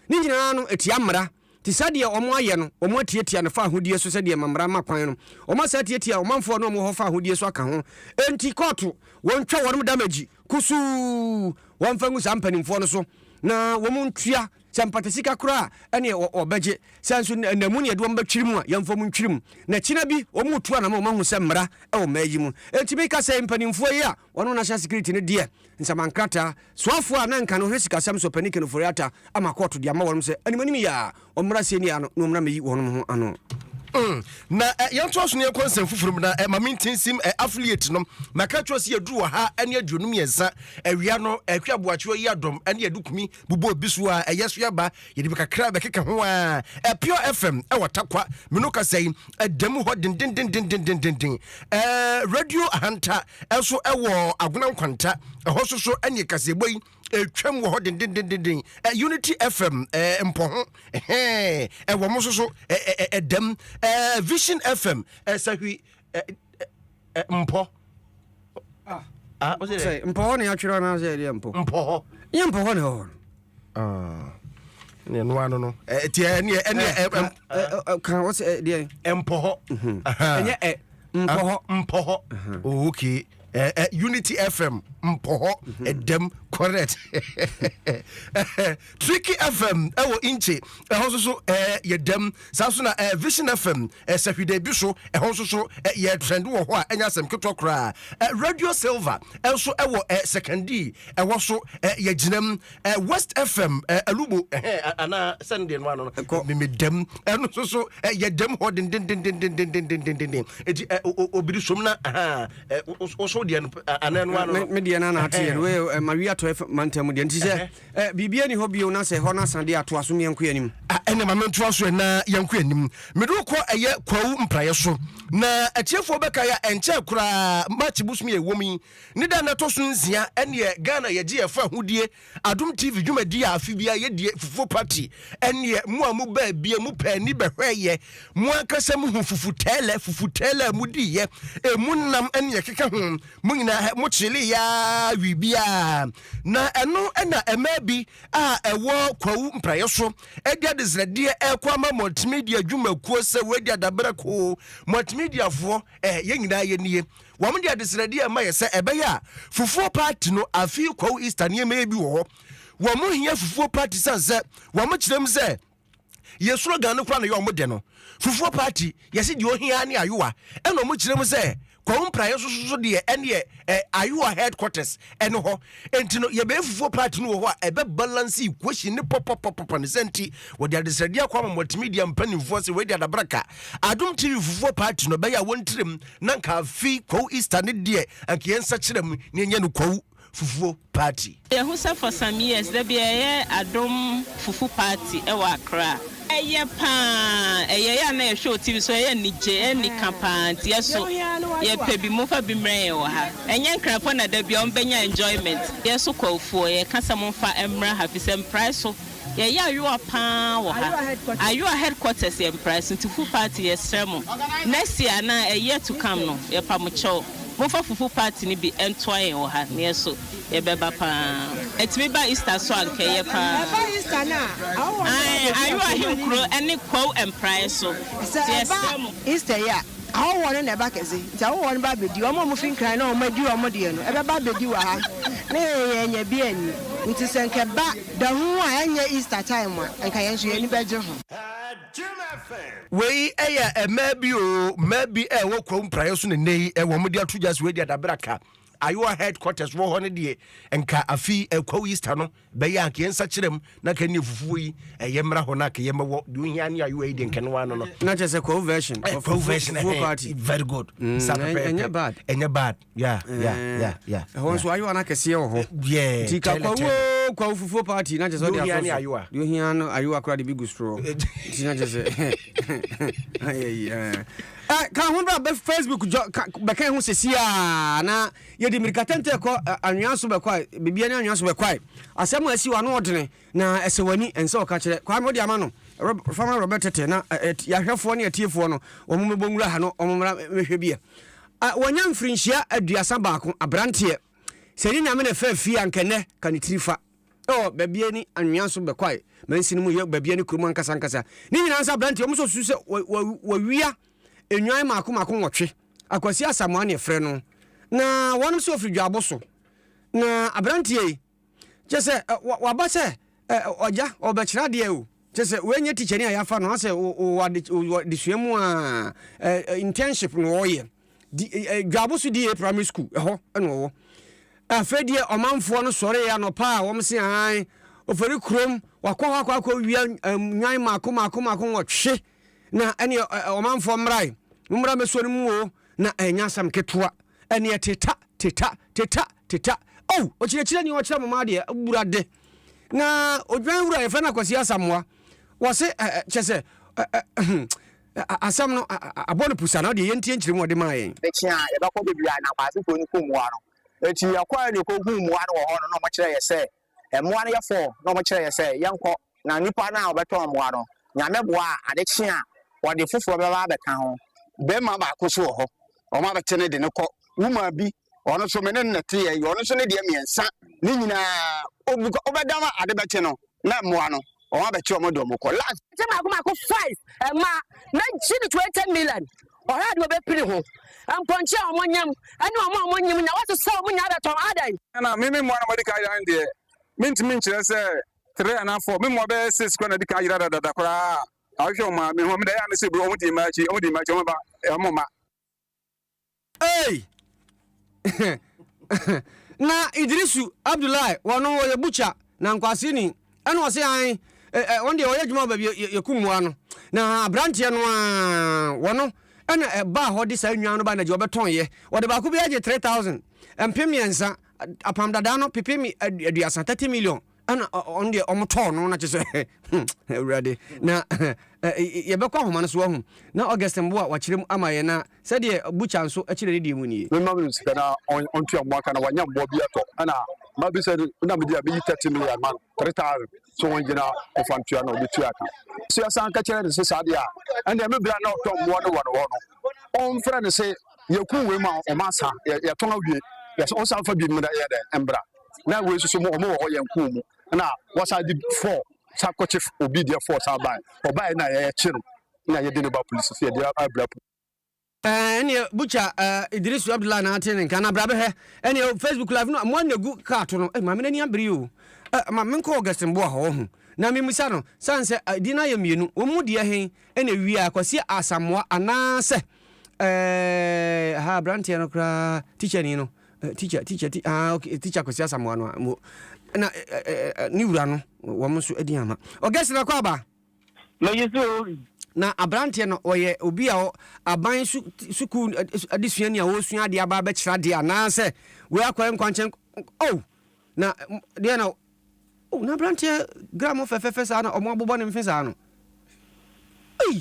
Ne nyinaa no, ɛtia mmara. Te sɛ deɛ wɔn ayɛ no, wɔn atiatia no fa ahodie so sɛdeɛ ɛma mmara ma kwan no. Wɔn asan atiatia ɔmanfoɔ a na wɔn wɔ hɔ fa ahodie so aka ho. Enti kɔɔto, wɔn twa wɔnom damage kusuu. Wɔn mfa ngu saa mpaninfoɔ no so na wɔn ntua, sɛ mpatasika koraa a, ɛneɛ wɔ, wɔbɛgye. Sɛ nso nna, nna mu ne yɛde wɔn bɛtwiri mu a, yɛmfa wɔn ntwiri mu. Na kyena bi, wɔn retu anamɔ, wɔn ahu sɛ mmara wɔ mmaa yi mu. Enti meka sɛ mpaninfoɔ yi a wɔnom National Security no deɛ, nsamankrataa Soafoɔ a na nka no ɔhwɛ sikasɛm so panin Ken Ofori-Atta ama kɔɔto de ama wɔnom sɛ animanim yi ara wɔmmra asɛnnie ha no na wɔmmra mmɛyi wɔnom ho ano. Mm na eh yɛntoa so na yɛnkɔ nsɛm foforɔ mu na eh ma menti nsim eh affiliate no maka akyerɛ sɛ yɛduru ɔha ne aduonu mmiɛnsa awia no eh hwɛ aboakyewa yi adɔm ne yɛde kumi bobɔ obi so a ɛyɛ so yɛba yɛde bi kakra bɛkeka ho a ɛpure fm ɛwɔ takwa meno kasa yi ɛda mu hɔ dendendendendendenden ɛɛ radio ahanta ɛnso ɛwɔ agona nkwanta ɛhɔ so so ɛne kaseɛbɔ yi ɛtwam wɔ hɔ dendendendenden unity fm ɛɛ mpɔ ho ɛhɛn ɛwɔ mo so so ɛdam ɛɛ vision fm ɛsahwi mpɔ ah, mpɔ hɔ ne atwerɛ no sɛ ɛdeɛ mpɔ mpɔ hɔ nyɛ mpɔ hɔ ne hɔ ne ɛno ano no ɛti ɛneɛ ɛneɛ kan wɔ sɛ ɛdeɛ mpɔ hɔ ɛnyɛ mpɔ hɔ mpɔ hɔ okay Eh, eh, Unity FM mpɔhɔ mhm. ɛdɛm correct Tricky FM ɛwɔ eh, Inche ɛhɔ nso so ɛɛ yɛ dɛm saa nso na ɛɛ Vision FM ɛsɛhwide bi so ɛhɔ nso so ɛyɛ trend wɔ hɔ a ɛnyɛ asɛm ketewa koraa ɛɛ Radio Silver ɛnso ɛwɔ ɛɛ Sekandi ɛwɔ so ɛɛ yɛ gyinam eh, west fm eh, alubo eh, anaa sɛ no deɛ no ano no memedam ɛno so so eh, yɛdam hɔ dendendendendendendendenden ɛti eh, obiri som no aha eh, woso deɛ no eh, anaa no ano no medeɛ no anaateɛ no eh, eh, mawi atɔ eh, mantam deɛ nti sɛ eh, biribia ni hɔ bio na sɛ hɔ no asa deɛ atoa so ne yɛnkɔ anim ah, ɛnɛ ma mentoa so ɛna yɛnkɔ anim mede wokɔ ɛyɛ kwawu mpraeɛ so na atiefoɔ bɛka yɛ ɛnkyɛ koraa match bosom yɛ ɛwɔ mu yi Ne da a ɛtɔ so nsia ɛneɛ Ghana yɛgye yɛfa ahodie Adom TV dwumadie a afe biara yɛdie Fufuo party ɛneɛ mo a mo baa bie mo pɛɛ ni bɛhwɛɛ yɛ mo ankasa mo hu fufu tɛɛlɛ fufu tɛɛlɛ a mo dii yɛ ɛmu nam ɛne ɛkeka ho mo nyinaa hɛ mo kyelee yɛ aa wii biaa na ɛno ɛna ɛmaa bi a ɛwɔ kwawu mpraeɛ so ɛde adesrɛdeɛ ɛkɔ ama multimedia dwumakuo sɛ wei de adabrɛ koo multimedia foɔ ɛɛ yɛ nyinaa yɛ nie. Wɔde adesrɛdeɛ rema yɛ sɛ ɛbɛyɛ a fufuo party no afei kwawu Easter nneɛma yi bi wɔ hɔ. Wɔn hia fufuo party sane sɛ wɔn kyerɛ mu sɛ yɛ slogan no koraa na yɛ wɔn dɛ no. Fufuo party yɛsi deɛ ohia ne ayowa ɛna wɔn kyerɛ mu sɛ kwawu mpraeɛ nso soso deɛ ɛneɛ ɛ ayowa headquarters ɛne hɔ. Enti no yɛbɛyɛ fufuo party no wɔ hɔ a ɛbɛ balance equation ne pɔpɔpɔpɔpɔ ne sɛ nti wɔde adesrɛdeɛ akɔ ama multimedia mpanimfoɔ sɛ wei de adabraka Adom TV fufuo party no ɛbɛyɛ a wɔn tirim na nka afi kwawu easter ne deɛ anka yɛn nsa kyerɛ mu na yɛnyɛ no kwawu fufuo party. Yɛahu sɛ for some years da bia yɛyɛ adom fufu party wɔ Accra. Ɛyɛ paa, ɛyɛ yɛ a na yɛhwɛ wɔ TV so, ɛyɛ anigye, ɛyɛ anika paa nti yɛso yɛpɛ bi, momfa bi mmrɛ yɛn wɔ ha. Ɛnyɛ Nkrapɔ na da bia wɔbɛnya enjoyment, yɛso kwawufoɔ yɛka sɛ momfa mmra ha fisɛ mprae so Yɛyɛ ayowa paa wɔ ha. Ayowa headquarters yɛ mpra Esuntufo party yɛsrɛ mo next year anaa a year to come no yɛpa mo kyɛw momfa fufu party no bi ntoa yɛn wɔ ha na yɛn so yɛbɛba paa ɛtumi ba Easter so a nka ɛyɛ paa ae ayowa ahenkuro ne kwawu mpraeɛ so nti yɛsrɛ mo Easter yi a ahɔhoɔ no na ɛba kɛse nti ahɔhoɔ no ba bɛdi wɔn a wɔfi nkran na wɔn adi wɔn deɛ no ɛbɛba bɛdi wɔ ha na yɛn yɛn anya bi anni nti sɛ nka ɛba Da hunu a ɛnyɛ Easter time a nka yɛn nso yɛn ani bɛgye ho. Wei yɛ mmaa bi o, mmaa bi a ɛwɔ Kwawu Praeɛ so na nnɛ yi wɔn de ato dwa so adi adabraka. Ayowa headquarters wɔ hɔ no deɛ nka afi Kwawu Easter no bɛyɛ anka yɛn nsa kyerɛ mu na nka ne fufuo yi ɛyɛ mmra hɔ na nka yɛn mɛwɔ deɛ ohia ne Ayowa yi deɛ nka ne wa no no. Na kyerɛ sɛ Kwawu version. Kwawu version. Very good. Mm, ɛnyɛ bad. Ɛnyɛ bad. Yeah, yeah, eh, yeah, yeah. Ɛhɔ nso ayewa no akɛseɛ wɔ hɔ. Eh, yeah. Nti ka kwawu o kwawu fufuo party na kyɛ sɛ ɔde afɔ so. Deɛ ohia no ayewa koraa de bi gu soro. Eh, Nti na kyɛ sɛ. Eh, ka ho bra bɛ Facebook jɔ bɛka ho sisi a na yɛde mirikatɛntɛ kɔ anwea so bɛkɔ a biribiara ne anwea so bɛkɔ a asɛm a asi wa no ɔdene Na ɛsɛ w'ani ɛnsɛ ɔka kyerɛ Kwame wode ama no Rob fama Robert tete na ɛɛ yahwɛfoɔ ne atiefoɔ no wɔn mɛbɔ nwura ha no wɔn mmra mɛhwɛ bi ɛ ah wanya mfirinhyia aduasa baako abranteɛ sɛ ne nyame na ɛfɛ fie anka ɛnɛ ka ne tiri fa ɛwɔ baabi ani anwea so bɛkwae mansi no mu yɛ baabi ani kurom ankasa ankasa ne nyinaa nsa abranteɛ wɔn nso susu sɛ wɔ wɔ wɔwia enwan mako mako nwɔtwe akwasi asamoa ne ɛfrɛ no na wɔn nso ofiri dwaabo so na abranteɛ yi Kyerɛ sɛ, waba sɛ ɔgya, ɔbɛkyerɛ adeɛ o. Kyerɛ sɛ, wei nyɛ tikyani a yɛafa no asɛ wɔ adesua mu a internship na ɔyɛ. Dwaabo so DA primary school ɛhɔ na ɔwɔ. Afei deɛ ɔmanfoɔ no sɔree anɔpa a wɔn se ahan, ɔfɛre kurom, wakɔ hɔ akɔ akɔ wia nwan mako mako mako wɔtwe. na ɛne ɔmanfoɔ mmrae mommra mɛsuo no mu o na ɛnyɛ asɛm ketewa ɛneɛ teta teta teta teta o oh, ɔkyerɛkyerɛ ni ɔkyerɛ mo ma adeɛ wura de na odwan wura yɛfrɛ no akwasi asamoa wɔse kyɛ sɛ asɛm no abɔ no pusa na ɔde yɛntie nkyerɛ mu ɔde maa yɛn ɛkyi a yɛbɛkɔ baabi a na kwaasefoɔ no kum mmoa no nti yɛkɔɛ ne kɔhu mmoa no wɔ hɔ no na ɔmɔkyerɛ yɛ sɛ Mmoa no yɛfoɔ na wɔkyerɛɛ yɛn sɛ yɛnkɔ, na nnipa no a wɔbɛtɔn mmoa no, Nyame boa a, ade kye a, wɔde foforɔ bɛba abɛka ho. Bɛrima baako nso wɔ hɔ, wɔabɛte ne de no kɔ, womaa bi, ɔno nso me ne no na ɛteɛ yi, ɔno nso ne deɛ mmiɛnsa, ne nyinaa, ɔbu kwa, wobɛdam a ade bɛkye no, na mmoa no, wɔn abɛte wɔn de wɔn kɔ last. ɛkyɛ baako baako five ɛma na gye ne twenty million ɔhwɛ ade wɔbɛpiri ho mpɔnkye a wɔn nyam ɛne wɔn a wɔn nyim na wɔsesa wɔn nyinaa bɛtɔn adan. ɛna me me mmoa na wɔde ka ayera no deɛ mentumi nkyerɛ sɛ three anaa four me mmoa bɛyɛ six kora na de ka ayera dadada koraa a ahwehwɛ wɔn maame ho meda yɛ a mese bro wɔn di mma akyi wɔn di mma akyi wɔn ba wɔn mma. Ei! na Idrisu Abdullahi wɔn wɔyɛ butcher na nkwaseeni ɛna ɔse an eh, eh, wɔn deɛ wɔyɛ adwuma wɔ baabi yɛ- yɛ- yɛku mmoa no na aberanteɛ no a wɔn ɛna ɛbaa hɔ de saa nnwan no ba na gye wɔbɛtɔn yɛ wɔde baako bi agye 3000 mpem mmiɛnsa apam dadaa no pepe mi aduasa 30 million ɛna ɔno deɛ ɔmo tɔɔ no na kyɛ sɛ awurade na yɛbɛkɔ ahoma no so ahu na augustin bo a wakyerɛ mu ama yɛ na sɛdeɛ butcher nso kyerɛ ne deɛ mu nie mema me sika na ɔntua mmoa ka na wanya mmoa bi atɔ ɛna mabi sɛ na mede a meyi 30 million ma no 3000 so wɔn gyina ɔfa ntua na ɔbɛtua ka so yɛsan ka kyerɛ ne se saa deɛ a ɛnna ɛme berɛ a na ɔtɔ mmoa no wɔ no hɔ no ɔmfrɛ ne se yɛku wei ma ɔma sa yɛtɔn awie yɛsan fa bi mmra yɛ dɛ mbra na wei nso so wɔn wɔ hɔ yɛn kɔn mu na wɔsan de fɔɔ san kɔkye obi deɛ fɔɔ san ban ɔbaa yɛ na yɛkye no na yɛde ne ba polisi so yɛde abira polisi. Eh, ɛneɛ butcher eh, idrisu abdullahi na ate ne nka na bra bɛhwɛ ɛneɛ oh, facebook live no mmoa na ɛgu kaa to no eh, maame no ani abere o eh, ma menkɔ augustin boa hɔ ho na memisa no sane sɛ eh, din no ayɛ mmienu wɔn mu deɛ he ɛna ɛwia kwasi asamoa anaasɛ eh, ha aberanteɛ no koraa tikyani no Eh, teacher teacher ti ah okay teacher kwasi asamoa no mo na ne wura no wɔn nso adi ama ɔgɛsi na kɔ aba. mɛyi so. na aberanteɛ no ɔyɛ obi a aban sukuu adesua ni a wɔresua adeɛ aba abɛkyerɛ adeɛ anaasɛ wei akɔyɛ nkwankyɛn oh na deɛ na oh na aberanteɛ gram fɛfɛɛfɛ saa na wɔn abobɔ ne mfe saa no. Hey.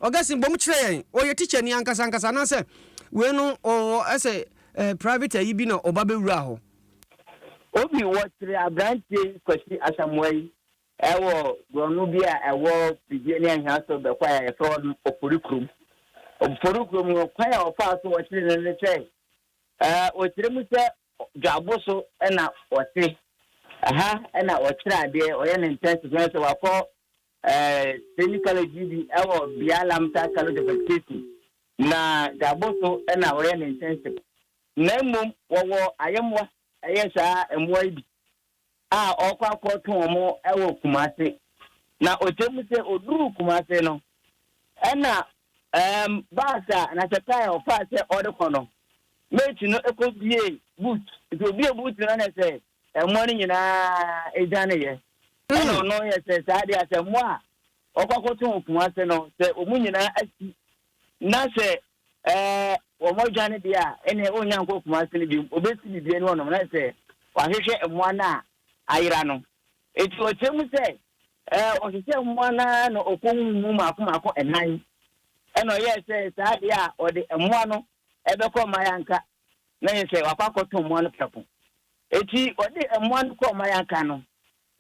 Augustine bom kyerɛ yɛn ɔyɛ tikyani ankasa ankasa anaasɛ wei no ɔwɔ ɛsɛ eh, private ayi bi na ɔba bɛwura hɔ. Obi wɔkyere aberanteɛ yi Kwasi Asamoah yi wɔ borɔno bi a ɛwɔ Pribie ne Ahiaso bɛkwae a yɛfrɛ hɔ no Ofori kurom. Ofori kurom no kwan a ɔfaa so wɔkyere no ne sɛ wɔkyerɛ mu sɛ dwabo so na ɔte. Ɛha na ɔkyerɛ adeɛ, ɔyɛ ne ntɛnse sɛ wakɔ Ɛɛ, Training College yi bi wɔ Bia Lamta College of Education, na Gabo so na wɔyɛ ne ntɛnsem. Na mmom wɔwɔ ayɛmmoa, ɛyɛ saa mmoa yi bi a ɔkɔ akɔto wɔn wɔ Kumase. Na ɔkyerɛ mu sɛ ɔduruu Kumase no, ɛna ɛɛm bus a anaasɛ car a ɔfaa sɛ ɔde kɔ no, mate no kɔbuee boot. Nti ɔbuee boot no na sɛ mmoa no nyinaa dwaneeɛ. Ɛna ɔno yɛ sɛ saa deɛ a, sɛ mmoa a wɔkɔ akɔto wɔn po ase no, sɛ wɔn nyinaa asi, na sɛ ɛɛ wɔdwane deɛ a, ɛnneɛ ɔnnya nkɔ po ase no bio. Ɔbɛsi biribi ani hɔnom, na ayɛ sɛ wahwehwɛ mmoa no a ayera no. Enti ɔkyerɛ mu sɛ, ɛɛ ɔhwehwɛɛ mmoa no ara na ɔkɔhuu mu mmaako mmaako nnan. Ɛna ɔyɛɛ sɛ saa deɛ a, ɔde mmoa no bɛkɔ mmaeɛ anka na yɛ sɛ wakɔ akɔtɔn mmoa no prɛko. Enti ɔde mmoa no kɔɔ Mayaka no.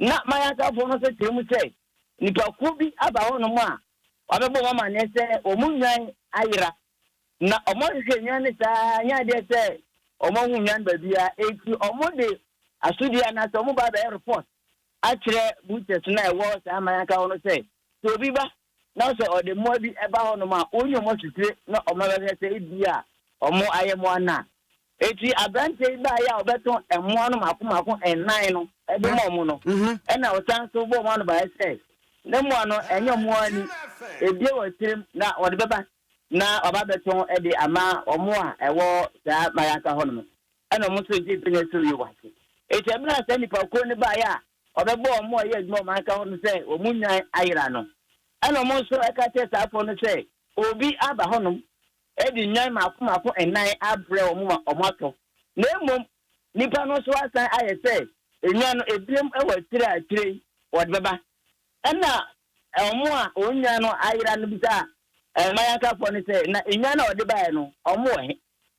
Ná Mayakafoɔ no nso kyerɛ mu sɛ nnipakuo bi aba hɔnom a wɔabɛbɔ wɔn amaneɛ sɛ wɔn nnwan ayera. Ná wɔahwehwɛ nnwan no saa ara, ɛnyɛ adeɛ sɛ wɔahu nnwan baabiara. Enti wɔde asodie anaasɛ wɔba abɛyɛ report akyerɛ butchers no a ɛwɔ saa Mayaka hɔ no sɛ, sɛ obi ba Na sɛ ɔde mmoa bi ba hɔnom a, onyi wɔn asutire na ɔma bɛhwɛ sɛ ebia wɔayɛ mmoa no a. Enti aberanteɛ yi baeɛ a ɔbɛtɔn mmoa no mmaako mmaako nnan no de ma wɔn no, ɛnna ɔsan nso bɔɔ wɔn anobaeɛ sɛ, Ne mmoa no, ɛnyɛ wɔn ara ni. Ebue wɔn tirim na wɔde bɛba na wɔaba abɛtɔn de ama wɔn a ɛwɔ saa Maraka hɔnom. Ɛnna wɔn nso gyee Bene so yuu wɔn ase. Enti ɛberɛ a saa nnipakuo no baeɛ a Ɔbɛbɔ wɔn a wɔyɛ adwuma wɔ ɔman kan hɔ no sɛ wɔn nnwan ayera no. Ɛnna wɔn nso ka kyerɛɛ saa afoa no sɛ, Obi aba hɔnom de nnwan mmaako mmaako nnan abrɛ wɔn ma wɔatɔ, na mmom nnipa no nso asan ayɛ sɛ nnwan no ebiem wɔ akyire a akyire yi wɔde bɛba. Ɛnna wɔn a wɔn nnwan no ayera no bisaa mmae ankafoɔ no sɛ, Na nnwan no a wɔde baeɛ no, wɔwɔ he?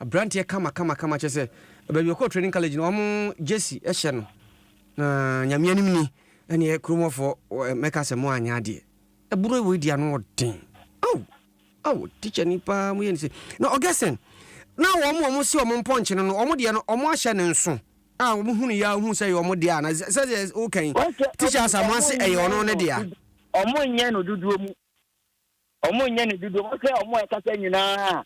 Abranteɛ kama kama kama kyerɛ sɛ baabi ɔkɔɔ training college no wɔn jersey hyɛ no na nyame anim ni ɛneɛ kuromɔfoɔ mɛka sɛ mo anyɛ adeɛ ɛboro wei deɛ ano wɔ den ao ao teacher ni paa mo yɛ ne sɛ na Augustine na wɔn wɔn si wɔn mpɔnkye no no wɔn deɛ no wɔn ahyɛ ne nso a wɔn hunu yɛ ahunu sɛ yɛ wɔn deɛ a na sɛ sɛ wokan teacher asamoa se ɛyɛ ɔno ne deɛ a. Wɔn nyɛ no dodoɔ mu Ɔmo nyɛ ne dodoɔ mo sɛ ɔmo a ɛkasa nyinaa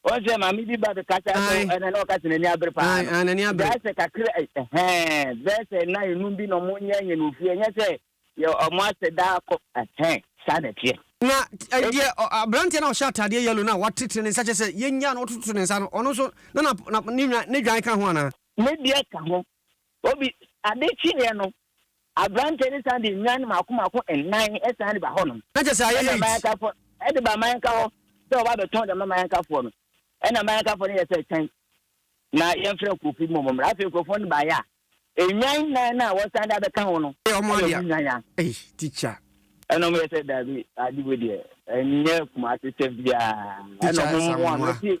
wɔn sɛ maame bi ba bɛkasa so Ae. ɛna na ɔkasa n'ani abere paa Ae, no ae, n'ani abere. bɛyɛ sɛ kakra ɛ- ɛhɛn bɛyɛ sɛ nna enum bi na ɔmo nyɛ nyɛ no ofie ɛnyɛ sɛ yɛ ɔmo asɛ daa kɔ ɛhɛn saa na ɛteɛ. Na ɛ, Eti deɛ ɔ- aberanteɛ no a ɔhyɛ ataadeɛ yellow no a watetene ne nsa kyɛ sɛ yɛnyaa no ɔtoto ne nsa no ɔno nso na na, na ne, nwa, ne dwan ka ho anaa? ne deɛ ka ho obi ade kyeeɛ no Aberanteɛ no san de nnwan mmaako mmaako nnan san de ba hɔnom. Na kyerɛ sɛ ayɛ Ɛna late. Mayankafoɔ ɛde ba Mayanka hɔ sɛ ɔba abɛtɔn de ama Mayankafoɔ no. Ɛna Mayankafoɔ no yɛ sɛ twɛn na yɛmfrɛ nkurɔfoɔ bi mmom mmra. Afei nkurɔfoɔ no baeɛ a, nnwan nnan no a wɔsan de abɛka ho no Ɛyɛ ɔmo ayɛ adea. ɔmo nnwan a. Ei teacher. Ɛna ɔmo yɛ sɛ daabi ade wei deɛ ɛnyɛ Kumasi sɛm biara. Ɛna Teacher ɔmo ɛsa mmoa no. mmoa. Mɛsi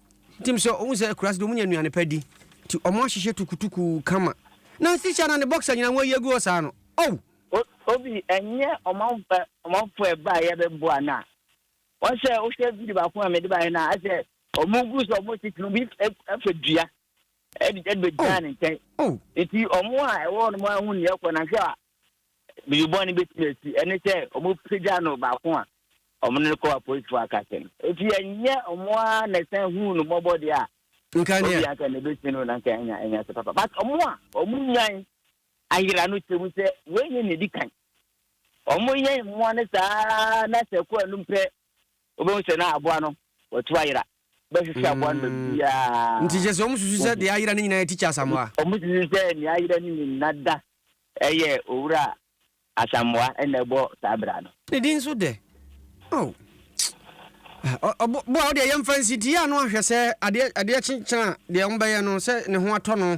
Tim sɛ ɔhu sɛ akuraase de wɔnya nnuane pa di nti wɔahyehyɛ tukutuku kama. Nancy hyɛ na ne boxer nyinaa wɔayi agu hɔ saa no. Ow! Obi, ɛnyɛ ɔmanfo ɔmanfo a ɛbaeɛ bɛboa no a. Wɔn sɛ wohwɛ video baako a mede baeɛ no a, asɛ wɔn gu so wɔn tete obi afa dua ɛde ɛde bɛgyina ne nkyɛn. Nti wɔn a ɛwɔ hɔ no wɔahu nea ɛkɔ na hwɛ a biribi bɔne bɛtumi asi, ɛne sɛ wɔpagya no baako a wɔne no kɔ apolisifoɔ akasa no. Enti ɛnyɛ wɔn ara na ɛsan huu no mmɔbɔ deɛ a, Nka nea. obia anka na ɛbɛsi no na anka anya anya ase papa. But wɔn a wɔnyan ayera no kyerɛ mu sɛ wei nyɛ nea ɛdi kan. Wɔyɛn mmoa no saa ara na sɛ ɛkɔ anom pɛ wobɛhu sɛ na aboa no watu ayera. Wobɛhwehwɛ aboa no baabiara. Nti kyerɛ sɛ wɔsusu sɛ deɛ ayera no nyinaa yɛ Tikya Asamoah? Wɔsusu sɛ deɛ ayera no nyinaa da yɛ Owura Asamoah na ɛbɔ saa bra no. Ne din nso dɛ? Oh! Ɔboa wo deɛ yɛmfa nsi ti yɛ ano ahwɛ sɛ adeɛ kye kyena deɛ wɔbɛyɛ no sɛ ne ho atɔ no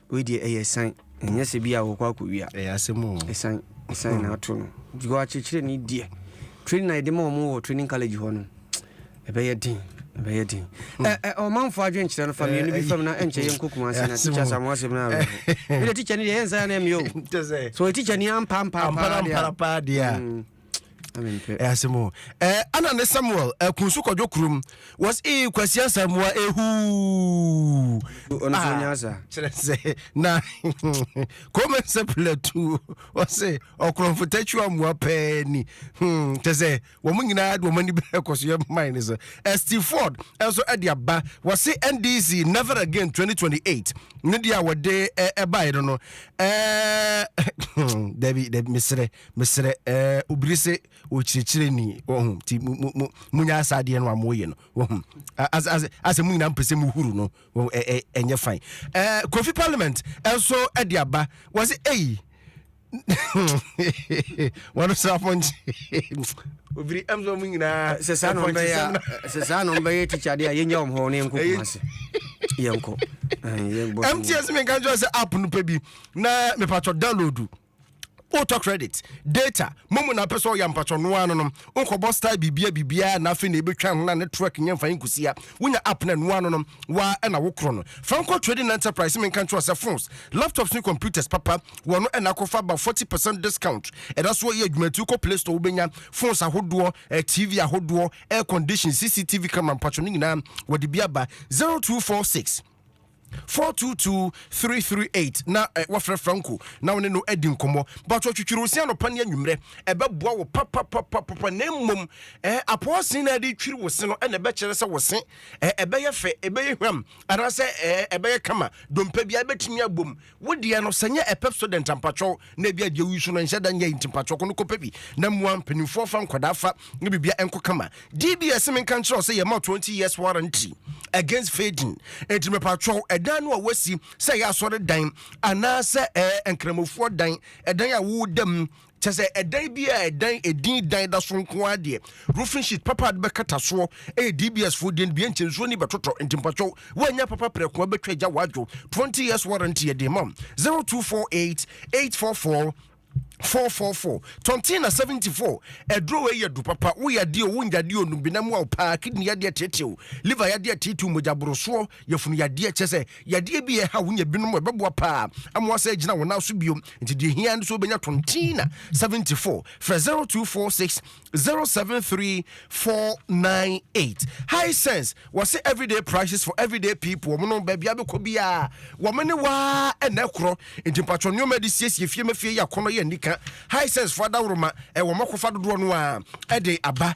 Wei deɛ ɛyɛ san. Ɛnyɛ sɛ bi a wɔkɔ akɔwia. Ɛyɛ asɛm o. Ɛsan ɛsan hmm. na ato no. Because akyerɛkyerɛ ni deɛ. Training na yɛde ma wɔn wɔ training college hɔ no. Ɛbɛyɛ den. Ɛbɛyɛ den. Hmm. Ɛ ɛ ɔmanfo adwenkyerɛ no fa mmienu eh, bi eh, fam na ɛnkyɛ yɛn nkokuma ase na tikya sa mo asɛm na awɛ. Ɛdɛ tikya ni deɛ yɛn nsa yɛn na ɛmiyɛ o. So tikya ni ampa ampa paa deɛ. Ampa ampa paa deɛ. Hmm. ɛyɛ asɛm o ana ne samuel ɛkun so kɔdwo kurom was ee kwasia samoa ehuu kyerɛ sɛ na kɔma sɛ pilatu ɔse ɔkorɔmfo takyi amoa pɛɛ ni hmm, kyɛ sɛ wɔn nyinaa de wɔn ani bɛrɛ kɔ so yɛ man ne so steve ford nso ɛde aba wɔse ndc never again 2028 ne deɛ a wɔde ɛbaeɛ no no ɛɛ dabi dabi mesrɛ mesrɛ ɛɛ eh, obiri se ɔkyerɛkyerɛ ni ɔhu nti monya saa adeɛ no a moyɛ no ɔhu asɛ mo nyinaa mpɛ sɛ mohuru no ɛnyɛ fine eh, kofi parliament nso de aba wɔ se ei wɔno so apɔnkye obiri ɛmsɛ ɔmo nyinaa sɛ saa no bɛyɛ sɛ saa no bɛyɛ tikyade a yɛnya wɔm hɔ ne yɛnkɔ kuma se yɛnkɔ mts menka nkyerɛ sɛ app no pɛ bi na mepatwɔ download wotɔ credit data momu na apɛ sɛ ɔyɛ ampatwɔ no ara no no nkɔbɔ style biribiara biribiara na afei na ebetwa ho na ne truck nyɛ mfa nkusia wonya app na ɛno ano no wa ɛna wokorɔ no fa nkɔ trading enterprise menka nkyerɛ sɛ phones laptops ne computers papa wɔ no ɛna akɔfa ba 40 percent discount ɛda so yɛ adwuma ti kɔ play store wobɛnya phones ahodoɔ eh, tv ahodoɔ air condition cctv camera mpatwɔ no nyinaa wɔde bi aba 0246 Four two two three three eight na eh, wafrɛ Franco na wo ne no adi nkɔmmɔ but ɔtwitwiri wo se anɔpa ne anwummerɛ ɛbɛboa wo papapapapa na mmom eh, apɔɔ se na ɛde twiri wo se no ɛna ɛbɛkyerɛ sɛ wo se eh, ɛbɛyɛ fɛ ɛbɛyɛ hwam anaasɛ eh, ɛbɛyɛ kama dompa biara ɛbɛtumi abom Wo deɛ no sɛ nyɛ a Pepsodent a mpatwɛw na ebi a deɛ woyi so no nhyɛ da nyɛ yi nti mpatwɛw kɔ no kɔpɛ bi na mmoa mpanimfoɔ fa nkwadaa fa ne biribiara ɛnkɔ kama. DBS se menka nkyerɛ wo sɛ yɛma 20 years warranty against fading enti mepatwɛw ɛdan no a woasi sɛ ɛyɛ asɔredan anaasɛ ɛɛ nkramofoɔ dan ɛdan a woda mu Kyɛ sɛ ɛdan bi a ɛdan edin dan da so nko ara deɛ, roofing sheet papa a de bɛkata soɔ yɛ DBS foɔ deɛ no bi nti nsuo ni bɛtotɔ. Nti mpakyɛw woannya papa prɛko a bɛtwa gya woadwo. 20 years warranty yɛde rema wo. 0248 844 444 Tɔntena 74 Aduro wei yɛ du papa wo yadeɛ o wo nyadeɛ o num benam wo a wo paa kidney yadeɛ teetee o liver yadeɛ teetee o mogya borosoɔ Yafunu yadeɛ kyerɛ sɛ yadeɛ bi ɛha wo nya binom ɛbɛboa paa ama wasɛ agyina wo nan so bio nti deɛ hia no sɛ wobɛnya tontina 74 frɛ 0246 073498 high sense wɔse everyday prices for everyday people wɔn no baabi abɛkɔ biara wɔn ne waa ɛna ɛkorɔ nti mpatwɔ nneɛma de siesie fie ma fie yɛ akɔnɔ yɛ nnika high sense fo adaworoma ɛwɔ mɔkɔfa dodoɔ no a ɛde aba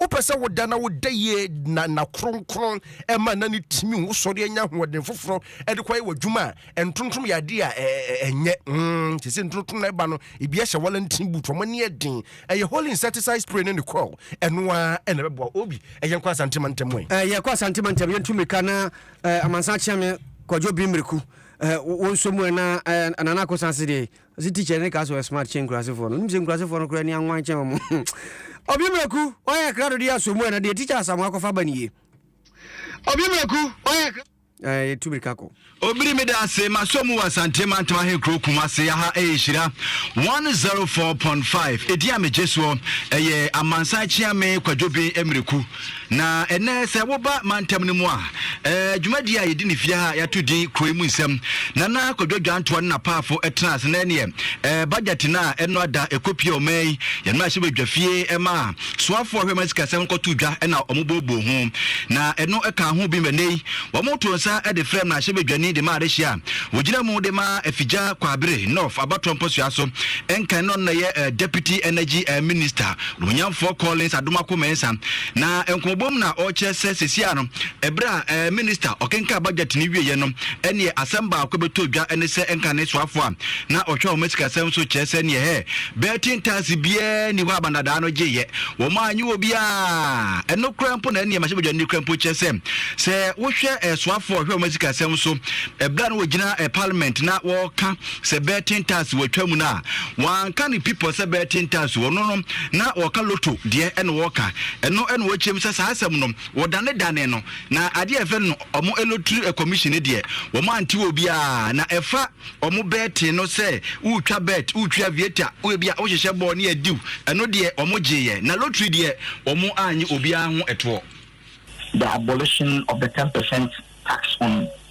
Wopɛ sɛ woda na woda yie na nna kronkron ɛma na ne tumi wosɔre anya ahoɔden foforɔ ɛde kɔyɛ w'adwuma a ntontom yɛ adeɛ a ɛnyɛ mm, te sɛ ntontom na ɛba no ebi ahyɛ wɔlantini boot wɔn ani ɛden ɛyɛ holy insecticide spray ne ne coil ɛno ara ɛna ɛbɛboa obi ɛyɛ nkɔ asante mantam ɛ eh, yɛkɔ asante mantam yɛntu mmirika na eh, amansan kyea me kwadwo bi mmireku eh, wɔn nso mu ɛna nana akosase deɛ Ɔse teacher ne ka sɛ ɔyɛ smart kyɛn nkurasefoɔ no, wonim sɛ nkurasefoɔ no koraa ani anwan kyɛn wɔn hmm Ɔbea Miraku woayɛ akra dodie asɔ mu ɛna deɛ teacher Asamoah akɔfa aba nie Ɔbea Miraku woayɛ akra Ɛɛ yɛtu mirika kɔ. Obiri meda ase masɔ mu wɔ Asante mantam ahenkuro Kumase ya ha ɛyɛ hyira 104.5 ɛdin a megye soɔ ɛyɛ Amansan Kyeame Kwadwobin Miraku Na ɛnnɛ sɛ woba mantam no mu a, dwumadie a yɛdi no fie ha a yɛato din Kuro yi mu nsɛm. Nana Kwadwo Dwantoa ne n'apaafo tenaa ase na ɛneɛ budget no a ɛno ada ɛkɔpie ɔman yi yɛn mmarahyɛbadwa fie ɛma a soafoɔ a ɔhwɛ ɔman sikasɛm no kɔtoo dwa na wɔbooboo ho na ɛno ɛkaa ho bi ma ɛnnɛ yi wɔtoo nsa de frɛ mmarahyɛbadwani de ma adehyeɛ a wɔgyina mu de ma Afigya Kwabere North Abatoɔ Mpɔsoa so nkan na ɔno na ɛyɛ Deputy Energy Minister Nuonyamfoɔ Collins Adomakoh-Mensah na nkɔmɔbɔ mu na ɔrekyerɛ sɛ sesie ara no, ɛberɛ a ɛɛ Minista ɔkenkan budget no wieɛ no, ɛneɛ asɛm baako bɛtɔ dwa ɛne sɛ nkane soafoɔ a na ɔhwɛ wɔn asikasɛm so kyerɛ sɛ neɛ hɛ bɛɛ tin taase biara nni hɔ a bandadaa no gyeeɛ wɔn a anyi wɔ biara ɛno koraa mpo na ɛneɛ mahyɛbadwani koraa mpo kyerɛ sɛ sɛ wohwɛ ɛɛ soafoɔ a ɔhwɛ wɔn asikasɛm so ɛberɛ a na wɔgyina ɛɛ Parliament na wɔreka sɛ bɛɛten taase watwa mu no a wanka ne pipɔ sɛ bɛɛten taase wɔ no no na wɔka loto deɛ ɛna wɔka ɛno ɛna wɔkyerɛm sɛ saa asɛm no wɔdane dane no na adeɛ ɛfɛ no ɔmo elotiri commission no deɛ wɔn ante wɔ biara na ɛfa ɔmo bɛɛten no sɛ wotwa bɛɛt wotwi avieta woebi a wohyehyɛ bɔɔl ne adiw ɛno deɛ ɔmo gyeeɛ na lotiri deɛ ɔmo anye obiara ho ɛtoɔ. The abolition of the 10% tax on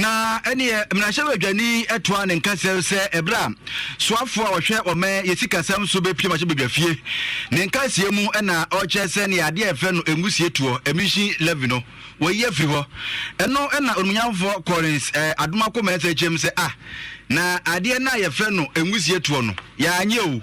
Na ɛneɛ mmarahyɛbadwani toa ne nka sɛm sɛ ɛberɛ a soafoɔ a ɔhwɛ ɔman yɛ sikasɛm so bɛpie mmarahyɛbadwafie ne nkaseɛ mu na ɔrekyerɛ sɛ neɛ adeɛ a yɛfrɛ no ɛngusie toɔ, emission levy, no wɔayi afiri hɔ ɛno na onimunyamfoɔ Collins Adomakomɛnsa kyerɛm sɛ ah na adeɛ no a yɛfrɛ no ɛngusie toɔ no yɛanyɛ o.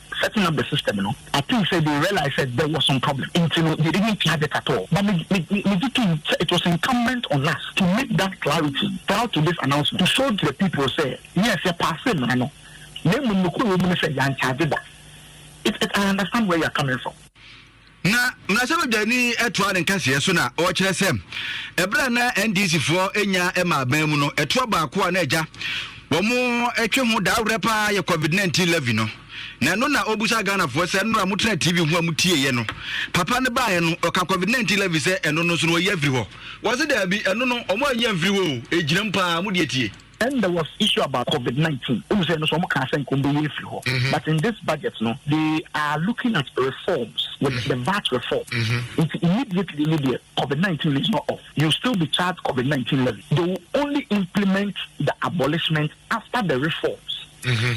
setting up the system no I think sɛ they realize sɛ there was some problem nti no they didn't flag it at all but me me me me gye tom sɛ it was incumbent on us to make that clarity prior to this announcement to show to the people sɛ yes yɛ paase mmara no na mmom nokorɛ wɔ mu ne sɛ yɛankyagye da it it I understand where you are coming from. Na mmarahyɛbadwani toaa ne nkaseɛ so na ɔkyerɛ sɛ ɛberɛ a na NDC foɔ nya ma aban mu no, ɛtoɔ baako a na agya wɔn ɛtwe ho daawerɛ paa yɛ COVID-19 levy no. Na ɛno na ɔbusa Ghanafoɔ sɛ nnora motena TV ho a motieɛ no, papa no baeɛ no ɔka COVID-19 levy sɛ ɛno no nso no wɔayi afiri hɔ. Wɔse daabi, ɛno no wɔn anyi amfiri hɔ o, ɛgyinam paa, modeɛ tie. Then there was issue about covid nineteen wọn sɛ ɛno so wɔn kan sɛ nka wɔn bɛ yɛ efiri hɔ mm-hmm. but in this budget no they are looking at reforms with mm-hmm. the VAT reform mm-hmm. nti immediately ni deɛ covid nineteen is not off you still be charged covid nineteen levy they will only implement the abolishment after the reforms. Mm-hmm.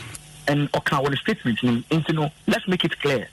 and ɔka wɔ ne statement ni nti no let's make it clear.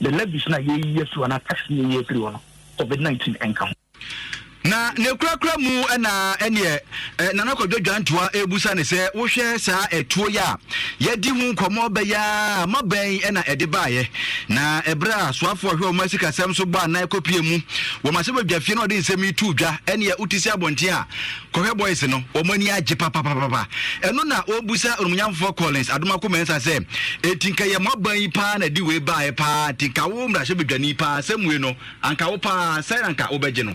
the levies na yɛyi afiri hɔ anaa tax na yɛyi afiri hɔ no covid nineteen nka ho. Na ne kurakura mu na ɛneɛ Nana Kwadwo Dwantoa ɛrebusa ne sɛ wohwɛ saa ɛtuo yi a yɛdi ho nkɔmmɔ bɛyɛ a ma bɛn ɛna ɛde baeɛ na ɛberɛ a soafoɔ ɔhwɛ wɔn asikasɛm so bɔ anan kɔpie mu wɔ Mahyɛbadwa fie na ɔde nsɛm yi tuu dwa ɛneɛ wote si abɔnten a Kɔhwɛ boys no, wɔn ani agye papapapapa. Ɛno na wɔbisa Onumnyamfoɔ Collins Adomako Mensah sɛ, Enti nka yɛ mo aban yi paa na ɛde wei baeɛ paa, nti nka wo mmarahyɛbadwani paa, asɛm wei no, anka wo paa, sɛn na anka wobɛgye no?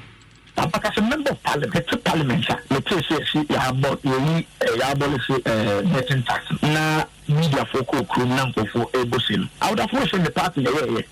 Ɔka sɛ, Member of Parliament, mete Parliament a, metee sɛ yɛse yɛabɔ, yɛyi, yɛabolise betting tax no, na mediafoɔ kɔɔ kurom na nkurɔfoɔ rebɔ se no, I would have wished sɛ me party na ɛyɛeɛ.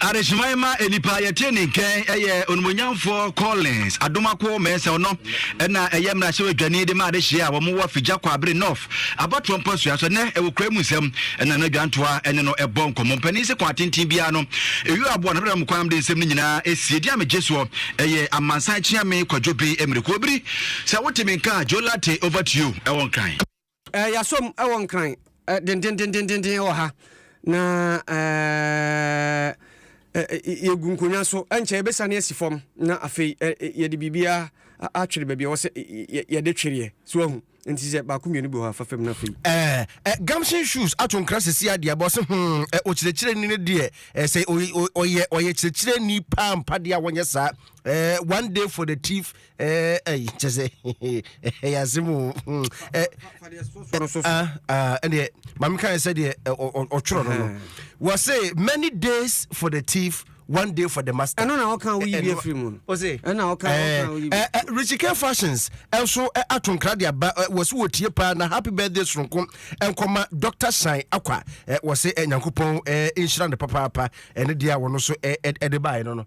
Adehyeman ma nnipa yɛ trenee nkɛn ɛyɛ onumonyamfoɔ Collins Adomakoɔ Mensel no na ɛyɛ mmarahyɛbadwani de ma adehyeɛ a wɔn wɔ Figya Kwabere North abatoɔ mpɔsoa so ɛnɛ ɛwɔ kura mu nsɛm ɛna no adwantoa ɛne no ɛbɔ nkɔmmɔ mpanin se kwan tenten biara no ɛyɔ aboa no ɛbɛdam kwan de nsɛm no nyinaa ɛsie di amegye soɔ ɛyɛ amansan kyeame kwadwo bi mmirikuo biri sɛ wote me nka Joe Latte over to you ɛwɔ nkran. Eh, Yɛasom wɔ Nkran eh, dendendendenden wɔ ha na eh, eh, eh, yɛgu nkonnwa so ɛnkyɛ yɛbɛsane asi fam na afei eh, eh, yɛde biribiara a- atwere baabi a ɛwɔ sɛ eh, yɛ- yɛde twereɛ so ahu nti sɛ baako mmienu bi wɔ hɔ a fa fam no afei Eh, eh, Gumption shoes ato nkra sɛsi adeɛ abɔ se hmm, eh, ɔkyerɛkyerɛni no deɛ eh, sɛ ɔy- ɔy- ɔyɛ ɔyɛ kyerɛkyerɛni paa mpa deɛ a wɔnyɛ saa Eh, one day for the thief ɛyi kyɛ sɛ ɛyɛ asɛm o ɛdeɛ maame kae sɛ deɛ ɔtwerɛ no no wɔ se many days for the thief one day for the master. ɛno na ɔka wo yi bi afiri mu no. o se ɛna ɔka ɔka wo yi bi. richike fashions ɛnso ato nkra de aba wɔsi wɔ tie paa na happy birthday soronko nkɔma doctor shine akwa wɔsi nyankopɔn nhyira ne papaapa ɛne deɛ a wɔn nso ɛde baayɛ no no.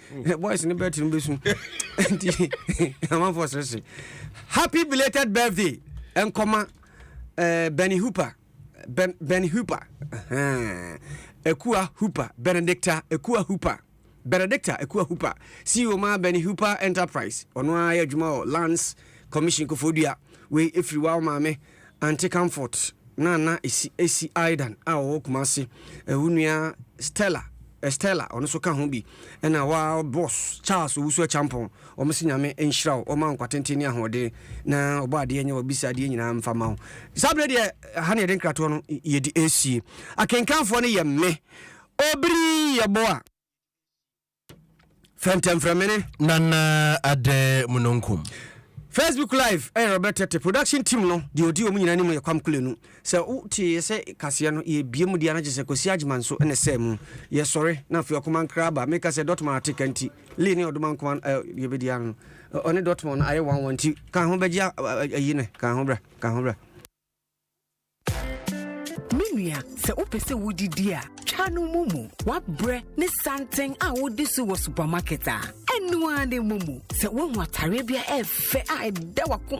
boys ne bɛte no bɛsu nti amanfoɔ serese happy belated birthday nkɔma uh, benny hooper ben, benny hooper uh, ekua hooper benedicta ekua hooper benedicta ekua hooper ceo ma benny hooper enterprise ɔno ara yɛ adwuma wɔ lands commission kofodua wei ɛfiri wa wo maame Aunty Comfort na na esi esi Aidan a ɔwɔ Kumasi, wo nua Stella, Estella, ɔno nso ka ho bi, ɛna wa boss Charles Owusu Acheampong, wɔn se Nyame nhyira wo, wɔma wo nkwa tenten ne ahoɔden, na ɔbɔ adeɛ nyɛ wɔbisa adeɛ nyinaa mfa ma wo. Saa berɛ deɛ, ha na yɛde nkratoɔ no yɛde ɛresie. Akenkanfoɔ no yɛ me, Obiri Yeboah. fɛntɛmfrɛmene nana adɛ munonkum facebook live ɛyɛ robert tete production team no deɛ ɔdi ɔmu nyina ne mu yɛ kwam kulenu sɛ woteɛ sɛ kaseɛ no yɛbie mu deɛ no gye sɛ kwasi agyema nso ne sɛ mu yɛsɔre na afei ɔkoma nkra aba meka sɛ dɔtmɔn ateka nti lee ne ɔdoma nkoma yɛbɛdi ano no ɔne dɔtmɔn no ayɛ wanwa nti ka ho bɛgye ayi ne ka ho bra ka ho bra Me nua, sɛ wopɛ sɛ wodidi a, twa no mumu. Wabrɛ ne santen a wodi so wɔ supermarket a, ɛno ara ne mumu. Sɛ woahu atareɛ bi a ɛyɛ fɛ a ɛda w'akoma